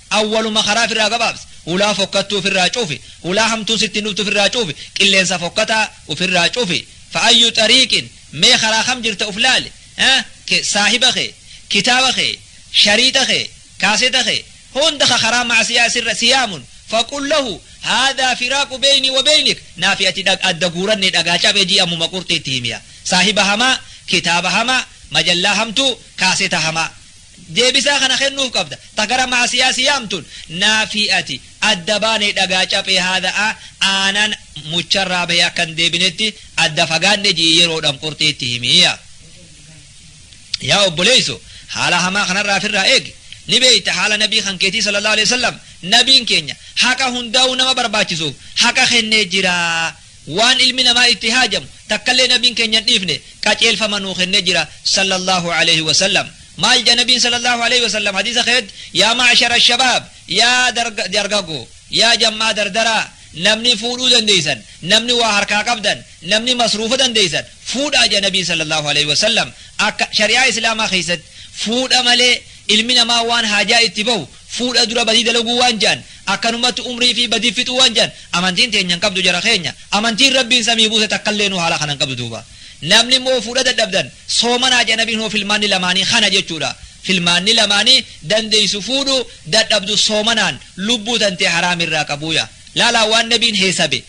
Awwaluma karaa firraa gabaabsi. Hulaa fokkattuu ufirraa cufi. Hulaa hamtuun sitti hin dhuftu ufirraa cufi. Qilleensa fokkataa ufirraa cufi. Fa'ayyu xariiqin, mee karaa kam jirta uf laali. Ke, saahiba kee, kitaaba kee, shariixa kee, kaaseta kee, hunda ka karaa ma'asiyaa sirra si yaamun, faqul lahu, haadhaa firaaqu beeynii wa beeynik, naa fi ati dhag, adda guurannee dhagaa cabe jii ammuma qurxii itti himiya. Saahiba hamaa, kitaaba hamaa, majallaa hamtuu, kaaseta hamaa. Deebisaa kana kennuuf qabda. Ta gara ma'asiyaa si yaamtuun naafii ati adda baane dhagaa caphee haadha a aanan mucharraa bahe akka hin deebinetti adda fagaadhe ji'i yeroodhaan qurxii itti himi yaa. Yaa obboleeyso haala hamaa kanarraa ofirraa eegi. Ni beeyta haala nabii kan keetii sallallahu alaihi wasallam nabiin keenya haqa hundaa'uu nama barbaachisuuf haqa kennee jira. Waan ilmi namaa itti haajamu takkallee Nabiin keenya hin dhiifne, qaceelfama nuu kennee jira, Sallallaahu aleyhi wa sallam. Maal jedha Nabiin Sallallaahu aleyhi wa sallam hadiisa keessatti, Yaa ma'ashara shabaab, yaa dargaggoo, yaa jam'aa dardaraa, namni fuudhuu dandeessan, namni waa harkaa qabdan, namni masruufa dandeessan, fuudhaa jedha Nabiin Sallallaahu aleyhi wa sallam. Akka shari'aa Islaamaa keessatti fuudha malee ilmi namaa waan haajaa itti bahu fuudha dura badii dalaguu waan je'an akkanumatti umrii ifii badii fixuu waan je'an amantiin teenya hin qabdu jara keenya amantiin rabbiin samii buuse takkalleenu haala kana hin qabdu duuba namni immoo fuudha dadhabdan soomanaa je'a nabiin hoo filmaanni lamaanii kana jechuudha filmaanni lamaanii dandeeysu fuudhu dadhabdu soomanaan lubbuu tantee haraamirraa qabuuya laalaa waan nabiin heesabe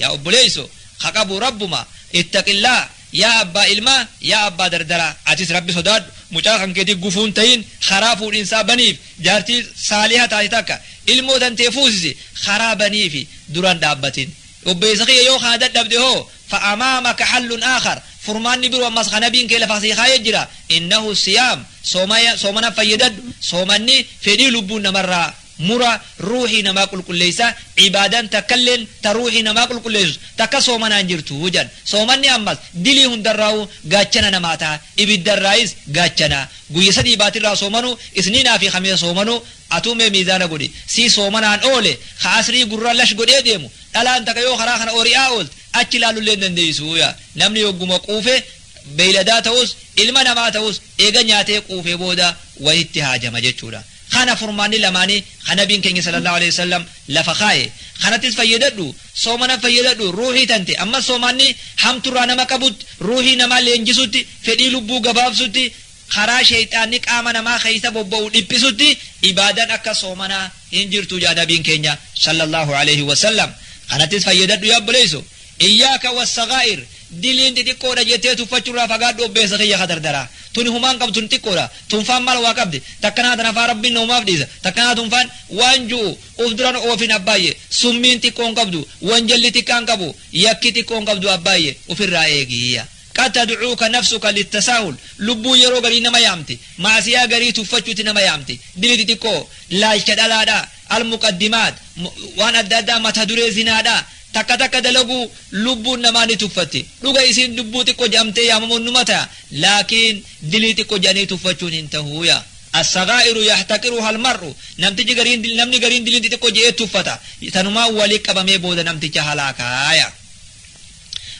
Yaa obboleesso ka qabu rabbuma ittaqillah yaa abbaa ilmaa yaa abbaa dardaraa atis rabbi sodaadhu mucaa kan keetii gufuu hin tahin karaa fuudhinsaa baniif jaartii saaliha taate takka ilmoo tantee fuusisi karaa baniifi dura hin dhaabbatin obboleessa kiyya yoo kana dadhabde hoo fa amaamaka hallun aakhar furmaanni biroo ammas ka nabiin kee lafaa sii kaayee jira innahu siyaam soomana fayyadadhu soomanni fedhii lubbuun namarraa mura ruuhii namaa qulqulleessa, ibaadaan takkalleen ta ruuhii namaa qulqulleessitu takka soomanaa hin jirtu jedhan. Soomanni ammas dilii hundarraahuu gaachana namaa taha, ibiddarraayis gaachana. Guyya sadii baatirraa soomanuu, isniinaa fi kamiisa soomanuu, atuu mee miizaana godhi, si soomanaan oole, ka asrii gurra lash godhee deemu, dhalaan takka yoo karaa kana ori'aa oolte, achi laalullee hin dandeessu jedha. Namni hogguma quufe, beeyladaa tahus, ilma namaa tahus, eega nyaatee quufee booda wahitti haajama jechuudha. Kana furmaanni lamaanii kan nabiin keenya sallallahu alaihi wasallam lafa kaaye. Kanattis fayyadadhu, soomana fayyadadhu, ruuhii tante ammas soomaanni hamturraa nama qabutti, ruuhii namaa leenjisutti, fedhii lubbuu gabaabsutti, karaa sheyxaanni qaama namaa keessa bobba'u dhiphisutti ibaadan akka soomanaa hin jirtu ja'a nabiin keenya sallallahu alaihi wasallam. Kanattis fayyadadhu yaa obboleeyso. Iyyaaka wassagaa'ir diliin xixiqqoodha jettee tuffachurraa fagaadhu obbeessa kiyya ka dardaraa. Tuni humaan qabdu tuni xiqqoodha. Tunfaan mal waa qabdi. Takkanaa tanafaa Rabbiin namumaaf dhiisa. Takkanaa tunfaan waan ju'u uf duran oofin abbaayye. Summiin xiqqoon qabdu. Wanjalli xiqqaan qabu. Yakki xiqqoon qabdu abbaayye. Ufirraa eegi iyya. Qad tad'uuka nafsuka littasaahul lubbuun yeroo garii nama yaamti. Ma'asiyaa garii tuffachutti nama yaamti. Dili xixiqqoo. Laalcha dhalaadha. Almuqaddimaat. Waan adda addaa mata duree zinaadha. Takka takka dalaguu lubbuun namaa ni tuffatti. Dhuga isiin dubbuu xiqqo je'amtee yaamamuun numa taya, laakiin dilii xiqqo je'anii tuffachuun hin tahu. Ya. As-sagaa'iru yahtaqiruha al-mar'u, namtichi gariin dil, namni gariin diliin xixiqqo je'ee tuffata. Tanumaan wali qabamee booda namticha halaaka. Ya.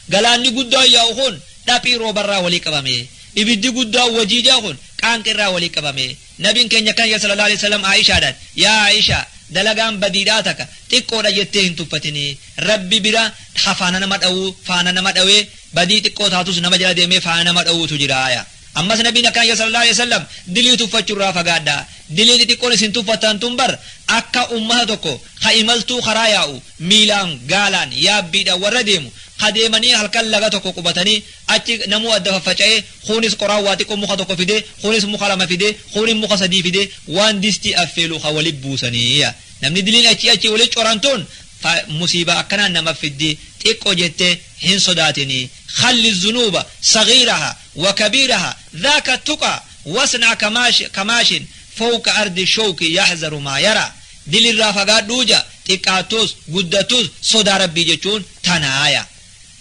Galaanni guddaan yaa'u kun dhaphii roobarraa wali qabamee. Ibiddi guddaan wajiijaa kun qaanqeerraa wali qabamee. Nabiin keenya kan ya sallallahu aleyh wasallam Aa'ishaadhaan, Yaa Aa'isha! Dalagaan badiidhaa taka xiqqoodha jettee hin tuffatinii. Rabbi bira ha faana nama dhawu, faana nama dhawee, badii xiqqoo taatus nama jala deemee faana nama dhawuutu jiraaya. Ammas Nabiin akkaan ya sallallahu aleyh wasallam, Dilii tuffachurraa fagaadhaa. Dilii xixiqqoon isin tuffattan tun bar akka ummata tokko ka imaltuu karaa yaa'u, miilaan, gaalaan, yaabbiidhaan warra deemu, ka deemanii halkan laga tokko qubatanii Achi namuu adda faffaca'ee, kuunis qoraan waa xiqqoo muka tokko fidee, kuunis muka lama fidee, kuunin muka sadii fidee, waan distii affeelu ka wali buusanii. Yaa namni diliin achii achii wali coran tun fa musiibaa akkanaa nama fiddi, xiqqo jettee hin sodaatinii. Khalli zunuuba saghiiraha wa kabiiraha dhaaka tuqa wasnaa ka maashi ka maashin fowqa ardi showki yahzaru maa yaraa. Dilirraa fagaadhuu ja xiqqaattuus guddattuus sodaa Rabbii jechuun tanaa. Yaa.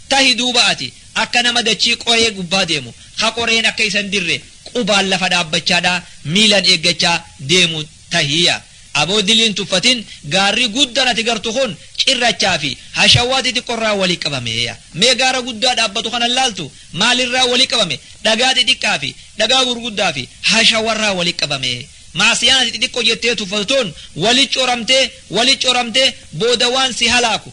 Tahi duuba ati akka nama dachii qoree gubbaa deemu, ka qoreen akka isa hin dirre qubaan lafa dhaabbachaadhaa miilan eeggachaa deemu tahi. Yaa aboo dilii hin tuffatin, gaarri guddan ati gartu kun cirrachaa fi hashawaa xixiqqo irraa wali qabame. Yaa mee gaara guddaa dhaabbatu kana hin laaltu? Maal irraa wali qabame? Dhagaa xixiqqaa fi dhagaa gurguddaa fi hashawa irraa wali qabame. Ma'asiyaan ati xixiqqo jettee tuffatu tun wali coramtee, wali coramtee booda waan si halaaku,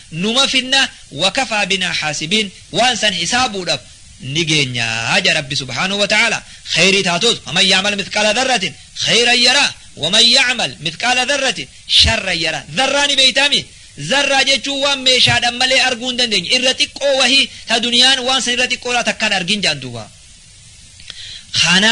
numa finna wakafaa binaa haasibiin waan san hisaabuudhaf ni geenya jedha rabbi subhaanahu wa ta'aala kheeyrii taatus faman ya'mal mithqaala dharratin kheeyran yaraa waman ya'mal mithqaala dharratin sharran yaraa dharraa ni beeytaami dharraa jechuun waan meeshaadhan malee arguu hin dandeenye irra xiqqoo wahii ta duniyaan waan san irra xiqqoo irraa takka hin argin jedhan duuba kana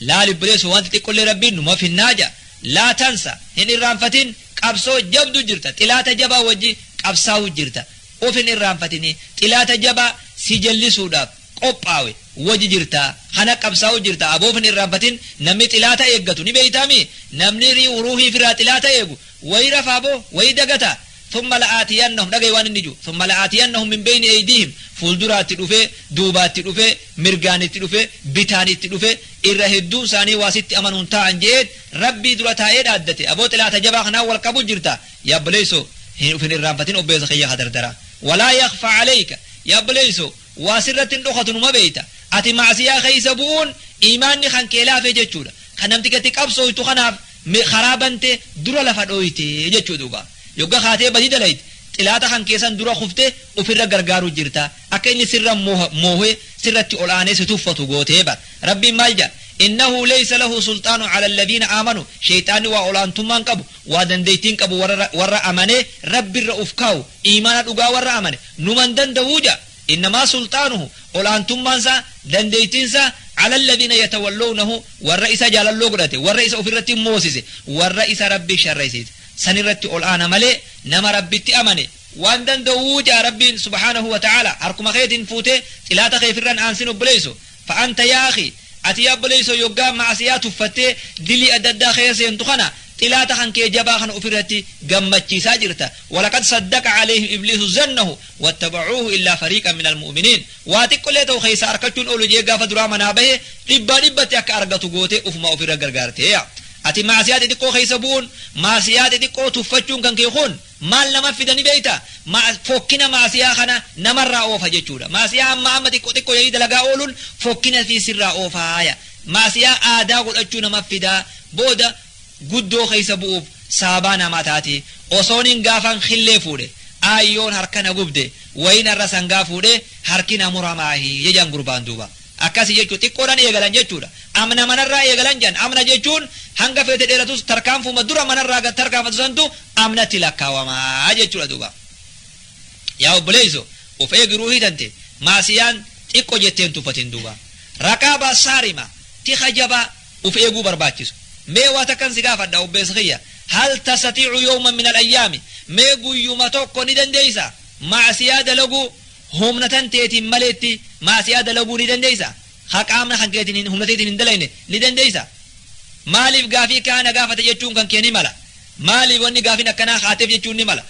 laal ibbileessu wanti xiqqollee rabbiin numa finnaa ja laa tansa hin irraanfatin qabsoo jabdu jirta xilaata jabaa wajji qabsaawu jirta of hin irraanfatini xilaata jabaa si jallisuudhaaf qophaawe wajji jirta kana qabsaawu jirta aboo of hin irraanfatin namni xilaata eeggatu ni beeytaami namni ruuhii firaa xilaata eegu wayi rafaa boo wayi dagataa Thumma la'aatiyannahum dhagahi waan inni jiru thumma la'aatiyannahum min bayni eydiihim fuulduraatti dhufee duubaatti dhufee mirgaan itti dhufee bitaan itti dhufee irra hedduun isaanii waa sitti amanuun taa'an je'eet rabbii dura taa'ee dhaaddate aboo xilaata jabaa kanaan wal qabu jirta yaa obboleeysoo hin ufin irraanfatin obbeessa kiyya ka dardara walaa yakfa aleyka yaa obboleeysoo waa sirratti hin dhokatu numa beeyta ati macsiyaa keeysa bu'uun iimaanni kan kee laafe jechuudha kan namtichatti qabsooytu kanaaf me karaa bantee dura lafa dhooyte jechuu duuba yogga kaatee badii dalayde xilaaxa kan kee san dura kufte ufirra gargaaru jirta akka inni sirra moohe sirratti ol aanee si tuffatu gootee bar rabbiin maal jedha innahu leysa lahu sulxaanu cala alladiina aamanu sheyxaanni waa ol aantummaan qabu waa dandeytiin qabu warra amanee rabbirra uf kaawu iimaana dhugaa warra amane numan danda'uu jedha Innamaa sulxaanuhu, ol'aantummaan isaa, dandeettiin isaa, ala lladiina yatawallownahu, warra isa jaalalloo godhate, warra isa ofirratti moosise, warra isa Rabbi sharraysiise, san irratti ol'aana malee, nama Rabbitti amane, waan danda'uu ja'a Rabbiin subhaanahu wa ta'aalaa, harkuma keetiin fuutee, xilaata kee firran aansin obboleeyso, Fa anta yaa akhii, ati yaa obboleeysoo yoggaa ma'asiyaa tuffattee dilii adda addaa keeysa seentu kana xilaata kan kee jabaa kana ufirratti gammachiisaa jirta. Walaqad saddaqa caleeyhim ibliisu zannahu wattabacuuhu illaa fariiqan minal mu'uminiin. Waa xiqqollee ta'u keeysaa arkachuun oolu je'ee gaafa duraa manaa bahe dhibbaa dhibbatti akka argatu gootee ufumaa ufirra gargaarte. Ati ma'asiyaa xixiqqoo keeysa bu'uun, ma'asiyaa xixiqqoo tuffachuun kan kee kun, Maal namaf fida ni beekta? Ma'a, fokkina ma'asiyaa kana namarraa oofa jechuudha. Ma'asiyaa amma amma xiqqo xiqqo jedhanii dalagaa ooluun fokkina fi sirraa oofaaya. Ma'asiyaa aadaa godhachuu namaf fida, booda guddoo keessa bu'uuf sababaa namaa taati. Osoonin gaafan killee fuudhe, aayyoon harka na gubde, wayiin har'a sangaa fuudhee harki na muramaahi jedhan gurbaan duuba. Akkasi jechuun xiqqoodhan eegalan jechuudha. Amna manarraa eegalan jedhan. Amna jechuun hanga feete dheeratus tarkaanfuma dura manarraa gad tarkaanfatu santu amnatti lakkaawama jechuudha duuba. Yaa obboleeyso of eegi ruuhii tante maasiyaan xiqqo jettee hin tuffatin duuba. Raqaabaa saarima tika jabaa of eeguu barbaachisu. Mee waa takkan si gaafadha obbeessa kiyya. Hal tastatiicu yawman min al ayyaami mee guyyuma tokko ni dandeeysa maasiyaa dalaguu Humna tanteetiin maleetti maasiyaa dalaguu ni dandeeysa? Ka qaamna kankeetiin hin humna teetiin hin dalayne ni dandeeysa? Maaliif gaafii kaa na gaafate jechuun kankee ni mala. Maaliif wanni gaafiin akkanaa kaateef jechuun ni mala.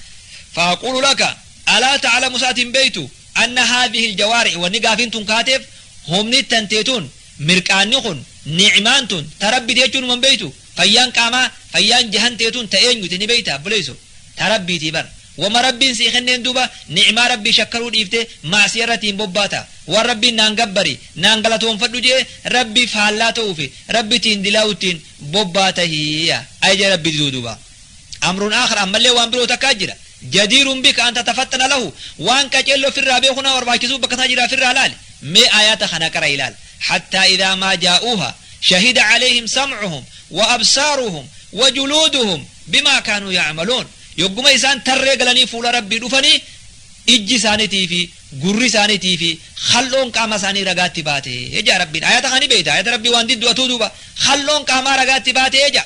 Fa'aquulu laka, alaa ta'alamu sa ati hin beeytu, anna haadhihil jawaarihi wanni gaafiin tun kaateef humni tantee tun, mirqaanni kun, ni'maan tun ta Rabbiti jechuun huma hin beeytu? Fayyaan qaamaa fayyaan jahan tee tun ta eenyuti ni beeyta abboleeyso ta rabbiitii bar wama rabbiin sii kenneen duuba ni'maa rabbii shakkaruu dhiiftee ma'asiya irratti hin bobbaata waan rabbiin naan gabbari naan galatoonfadhu je'e rabbii faallaa ta'uufi rabbitiin dilaa'uttiin bobbaata hii ajaja rabbii diduu duuba Amrun aakhar ammallee waan biroo takkaa jira. Jadiirun bika an tatafaxxana lahu waan qaceelloo firraa beekuu nama barbaachisuu bakka isaa jiraa firraa laali. Mee aayaata kana qara ilaal. Hattaa idhaa maa jaa'uuha shahida caleehim samcuhum wa absaaruhum wa juluuduhum bimaa kaanuu yacmaluun. Yogguma isaan tarree galanii fuula rabbii dhufanii ijji isaanitii fi gurri isaanitii fi khal'oon qaama isaanii ragaatti baate. Ejaa rabbiin aayaata kana ni beeyta. Aayaata rabbii waan diddu atuu duuba khal'oon qaamaa ragaatti baate ejaa.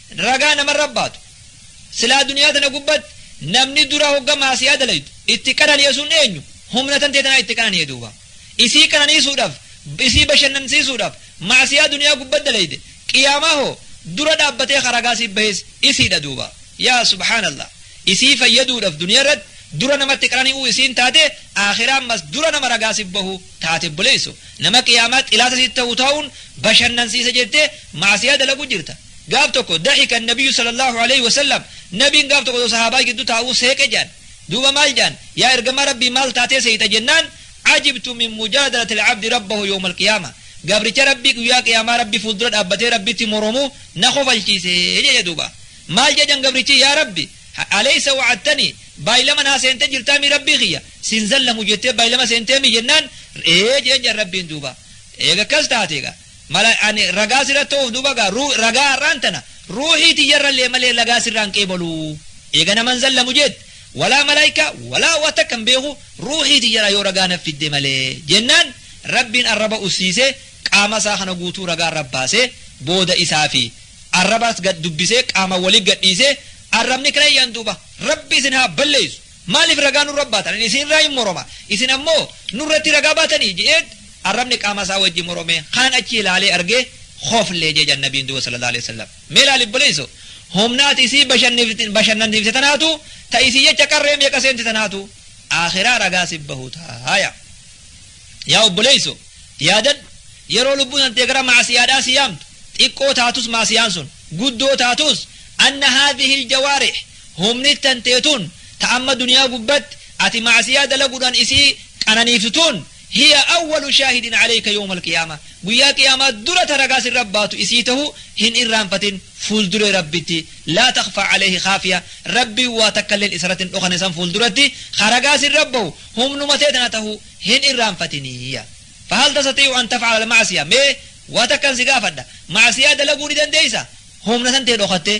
ragaa namarra baatu. Silaa duniyaa tana gubbatti namni dura hogga maasiyaa dalaydu itti qanani'e sun eenyu? Humna tantee tanaa itti qanani'e duuba. Isii qananiisuudhaaf, isii bashannansiisuudhaaf maasiyaa duniyaa gubbatti dalayde qiyaamaa hoo dura dhaabbatee ka ragaa siif bahees isiidha duuba. Yaa subhaanallah. Isii fayyaduudhaaf duniyaa irratti dura namatti qanani'uu isiin taate aakhiraa ammas dura nama ragaa siif bahu taate obboleessu. Nama qiyaamaa xilaata sitti ta'u ta'uun bashannansiisa jettee maasiyaa dalagu jirta. Gaaf tokko daxika annabiyyu sallallahu alayhi wa sallam nabiin gaaf tokko osoo sahaabaa giddu taa'uu seeqe jedhan. Duuba maal jedhan? Yaa ergamaa Rabbii maal taatee seeyta jennaan ajibtu min mujaadalati al-abdi rabbahu yawma al-qiyaama. Gabricha Rabbii guyyaa qiyaamaa Rabbi fuuldura dhaabbatee Rabbitti moromuu na kofalchiise jedhe duuba. Maal jedhan gabrichi yaa Rabbi alaysa wa'attanii baay'ilama naa seentee jirtaa mii Rabbii kiyya sin zallamu jettee baay'ilama seentee mii jennaan ee jedhan jedhan Rabbiin duuba. Eega akkas taate egaa Mala ani ragaa sirra ta'uuf duuba gaa ruu ragaa har'aan tana ruuhii tiyyarrallee malee lagaa sirraan qeebaluu eega naman zallamu jeet walaa malaayika walaa waa takka hin beeku ruuhii tiyyarraa yoo ragaa naf fidde malee jennaan rabbiin arraba ussiisee qaama isaa kana guutuu ragaa irra baasee booda isaa fi arrabas gad dubbisee qaama wali gadhiisee arrabni kireeyyan duuba rabbi isin haa balleessu Maaliif ragaa nurra baatan? Ani isin irraa in moroma, isin ammoo nurratti ragaa baatanii? je'eet arrabni qaama isaa wajji morome, kaan achi ilaalee argee khofle je'e jedhan Nabiin duuba sallallahu aleyh wasallam. Mee laali obboleeyso, humna ati isii bashannif- bashannansiifte tanaatu, ta isii jecha qarree meeqa seente tanaatu, aakhiraa ragaa sif bahu taaya. Yaa obboleeyso, yaadadhu, yeroo lubbuun tantee gara ma'asiyaadhaa si yaamtu, xiqqoo taatus ma'asiyaan sun, guddoo taatus, anna haadhihi iljawaarih, Humni tantee tun ta amma duniyaa gubbatti ati ma'asiyaa dalagudhan isii qananiiftu tun hiya awwalu shaahidin aleyka yowma alqiyaamah guyyaa qiyaamaa dura ta ragaa sirra baatu isii tahu hin irraanfatin fuulduree rabbitti laa takhfaa aleyhi khaafiya rabbiin waa takkalleen isarratti hin dhokane san fuulduratti ka ragaa sirra bahu humnuma tee tana tahu hin irraanfatiniyya fahal tastatiicu an tafcala alma'asiya mee waa takkan si gaafadha ma'asiyaa dalaguu ni dandeeysa humna san tee dhokattee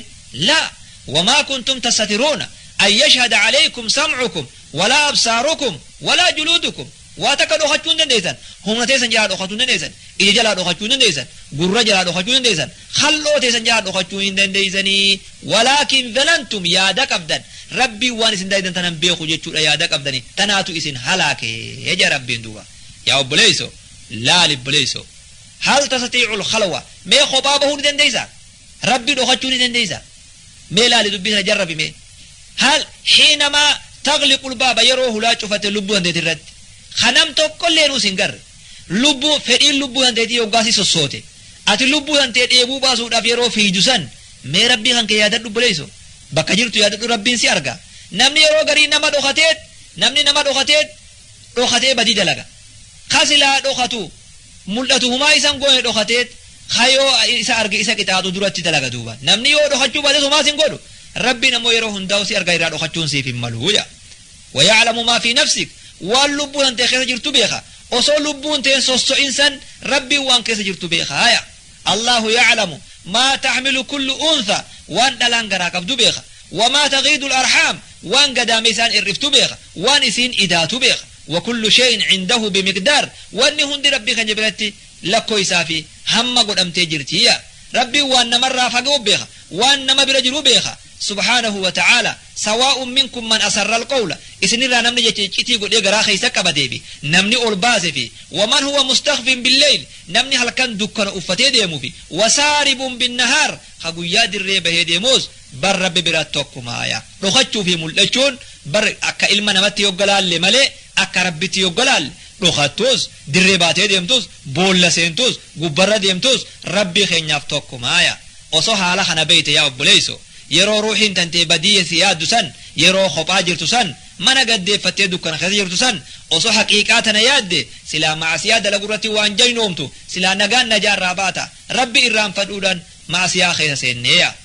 laa wamaa kuntum tassatiruuna an yashhada alaykum sam'ukum walaa absaarukum walaa juluudukum waa takka dhokachuu hin dandeeysan humna teeysan jalaa dhokatuu hin dandeeysan ija jalaa dhokachuu hin dandeeysan gurra jalaa dhokachuu hin dandeeysan khal'oo teeysan jalaa dhokachuu hin dandeeysanii walaakin zanantum yaada qabdan rabbiin waan isin daydan tanan beeku jechuudha yaada qabdani tanaatu isin halaake ja rabbiin duuba yaa obboleeyso laali obboleeyso Hal tasatiicul khalwa mee kophaa bahuu ni dandeeysa? Rabbi dhokachuu ni dandeeysa? Mee laali dubbii sana jarrabi mee. Hal hiinamaa tagliqul baaba yeroo hulaa cufate lubbuu hanteeti irratti. Ka nam tokkolleen us hin garre. Lubbuu fedhiin lubbuu hanteetii yoggaa si sossoote. Ati lubbuu hantee dheebuu baasuudhaaf yeroo fiiydu san mee rabbii kan kee yaadadhu obboleeyso. Bakka jirtu yaadadhu rabbiin si arga. Namni yeroo garii nama dhokateet namni nama dhokateet dhokatee badii dalaga. Ka silaa dhokatu, mul'atu humaa isa hin goone dhokateet, ka yoo isa arge isa qixaaxu duratti dalaga duuba. Namni yoo dhokachuu baates homaa si hin godhu. Rabbiin ammoo yeroo hundaa'u si arga irraa dhokachuun siif hin malu jedha. Waya'lamu maa fi nafsik waan lubbuu tantee keessa jirtu beeka. Osoo lubbuun teen sosso'in san Rabbiin waan keessa jirtu beeka. Haya. Allaahu ya'lamu maa taxmilu kullu untha waan dhalaan garaa qabdu beeka. Wamaa tagiidul arhaam waan gadaameysaan ir'iftu beeka. Waan isiin idaatu beekha. Wakullu shay'in indahu bimiqdaar Wanni hundi Rabbii keenya biratti lakkoysaa fi hamma godhamtee jirti. Yaa. Rabbiin waan namarraa fagewu beekha. Waan nama bira jiru beekha. Subhaanahu wa ta'aala. Sawaa'un minkum man asarral qawla Isinirraa namni jecha iccitii godhee garaa keessa qabatee fi namni ol baase fi waman huwa mustakfin billayl Namni halkan dukkana uffatee deemu fi wasaaribun binnahaar Ka guyyaa dirree bahee deemuus bar Rabbi biratti tokkuma. Yaa. Dhokachuu fi mul'achuun bar akka ilma namatti yogga laalle malee akka Rabbitti yogga laalle dhokattus, dirree baatee deemtus, boolla seentus, gubbarra deemtus Rabbii keenyaaf tokkumaa yaa Osoo haala kana beeyte yaa obboleeyso yeroo ruuhiin tantee badiyya si yaaddu san yeroo kophaa jirtu san mana gad deeffattee dukkana keessa jirtu san osoo haqiiqaa tana yaadde silaa ma'asiyaa dalagurratti waan jaynoomtu silaa nagaan najaa irraa baata Rabbi irraanfadhuudhaan ma'asiyaa keessa seennee yaa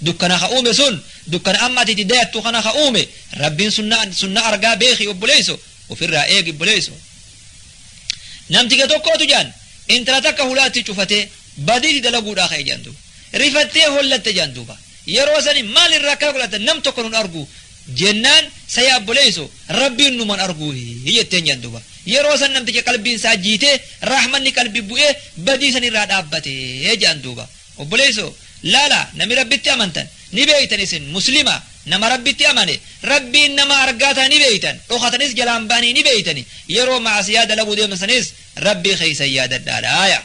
Dukkana ka uume sun dukkana amma ati itti dayattu kana ka uume Rabbiin sunna sunna argaa beeki obboleeyso ofirraa eegi obboleeyso namtiga tokkootu jaan intala takka hulaatti cufatee badiiti dalaguudhaa ka'e jaan duuba rifattee hollatte jaan duuba yeroo sani maal irraa akkana godhatan nam tokko nun argu jennaan saya obboleeyso Rabbiin numan arguu jetteen jaan duuba yeroo san namticha qalbiin isaa jiitee rahmanni qalbi bu'ee badii san irraa dhaabbatee jaan duuba Obboleesso laala nami rabbitti amantan ni beeytan isin muslima nama rabbitti amane rabbiin nama argaa taha ni beeytan dhokatanis jalaan bahanii ni beeytani yeroo maasiyaa dalaguu deemtan sanis rabbii keeysan yaadadhaa laaya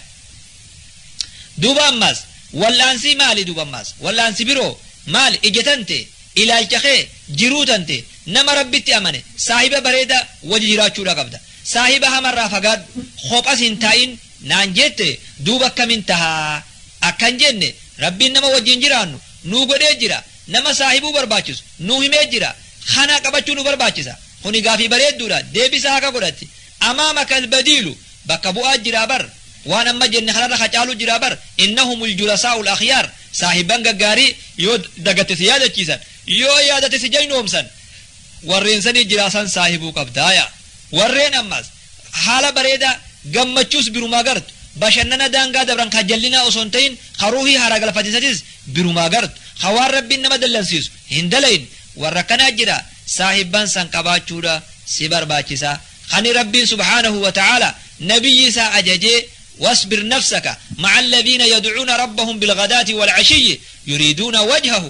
duuba ammaas wal'aansii maali duuba ammaas wal'aansi biroo maali ija tante ilaalcha kee jiruu tante nama rabbitti amane saahiba bareeda waji jiraachuudha qabda saahiba hamarraa fagaadhu kopha sin taa'in naan jette duuba akkamin taha? Akkan jenne Rabbiin nama wajjiin jiraannu nuu godhee jira, nama saahibuu barbaachisu nuu himee jira, khana qabachuu nu barbaachisa. Khuni gaafii bareedduudha, deebisaa haka godhatti. Amaamaka albadiilu, bakka bu'aa jira bar, waan amma jenne khanarra kha caalu jira bar, innahumul julasaa'ul akhyaar, saahibban gaggaarii yoo dagatte si yaadachiisan, yoo yaadatte si jaynoomsan, warreen sanii jiraa san saahibuu qabda. Yaa warreen ammas. Haala bareedaa, gammachuus birumaa gartu. Bashannana daangaa dabran ka jallinaa osoo hin ta'in ka ruuhii haaraa galfatiisatis birumaa gartu. Ka waan Rabbiin nama dallansiisu hin dalayin. Warra akkanaa jira saahibban san qabaachuudha si barbaachisa. Kani Rabbiin subhaanahu wa ta'aalaa Nabiyyi isaa ajajee Wasbir nafsaka ma'a alladhiina yad'uuna rabbahum bilghadaati wal'ashiyyi yuriiduuna wajhahu.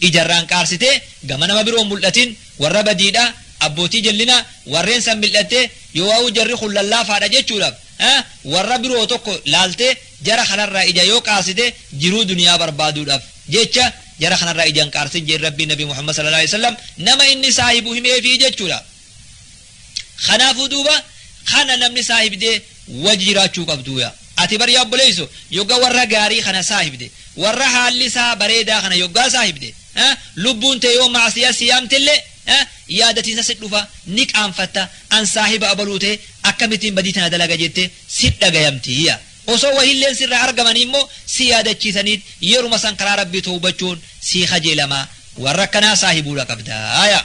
ija irraan qaarsitee gama nama biroo hin mul'atin, warra badiidha, abbootii jallinaa, warreen san mil'attee, yoowaawuu jarri kun lallaafaadha jechuudhaaf, a, warra biroo tokko laaltee jara kanarraa ija yoo qaarsite jiruu duniyaa barbaaduudhaaf jecha jara kanarraa ija hin qaarsin jeen Rabbiin Nabi Muhammad sallallaahu aleyhi wa sallam nama inni saahibu himeefii jechuudha. Kanaafuu duuba kana namni saahibdee wajji jiraachuu qabdu yaa. Ati bar yaa obboleeyso yogga warra gaarii kana saahibde warra haalli isaa bareedaa kana yoggaa saahibde eh, lubbuun tee yoo maasiyaa si yaamtille eh, yaadatiinsa si dhufa ni qaanfatta an saahiba abaluu tee akkamittiin badii tana dalaga jette si dhagayamti yaa. Osoo wahiilleen sirraa argamanii immoo si yaadachiisaniit yeruma san karaa rabbii towbachuun sii kajeelama warra akkanaa saahibuudha qabda yaa.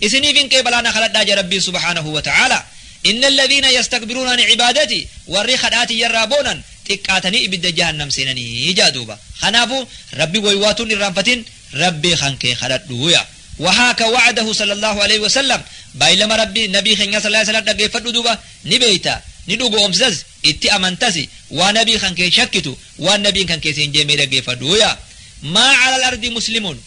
Isiniif hin qeebalaa na kadhadhaa jedhe Rabbiin subhaanahu wa ta'aalaa. Inna alladhiina yastakbiruuna an ibaadatii warri kadhaa tiyya irraa boonan xiqqaatanii ibidda jahannam seenani ja'a duuba. Kanaafu Rabbi woywaatu hin irraanfatin Rabbi kankee kadhadhu yaa. Wahaaka wa'adahu sallallahu aleyhi wa sallam baylama Rabbi nabii kenyaa sallallahu aleyhi wa sallam dhaggeeffadhu duuba ni beeyta ni dhugo'oomsisas itti amantasi waa nabii kankee hin shakkitu waan nabiin kankee siin jee mee dhaggeeffadhu yaa. Maa calal ardi muslimun.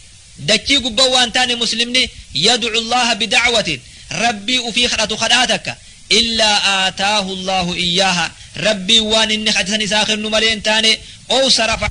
Dachii gubba waan taane muslimni yad'u Allaha bida'watin Rabbii ufii kadhatu kadhaa takka illaa aataahu Allaahu iyyaaha Rabbiin waan inni kadhe san isaa kennu malee hin taane ow sarafa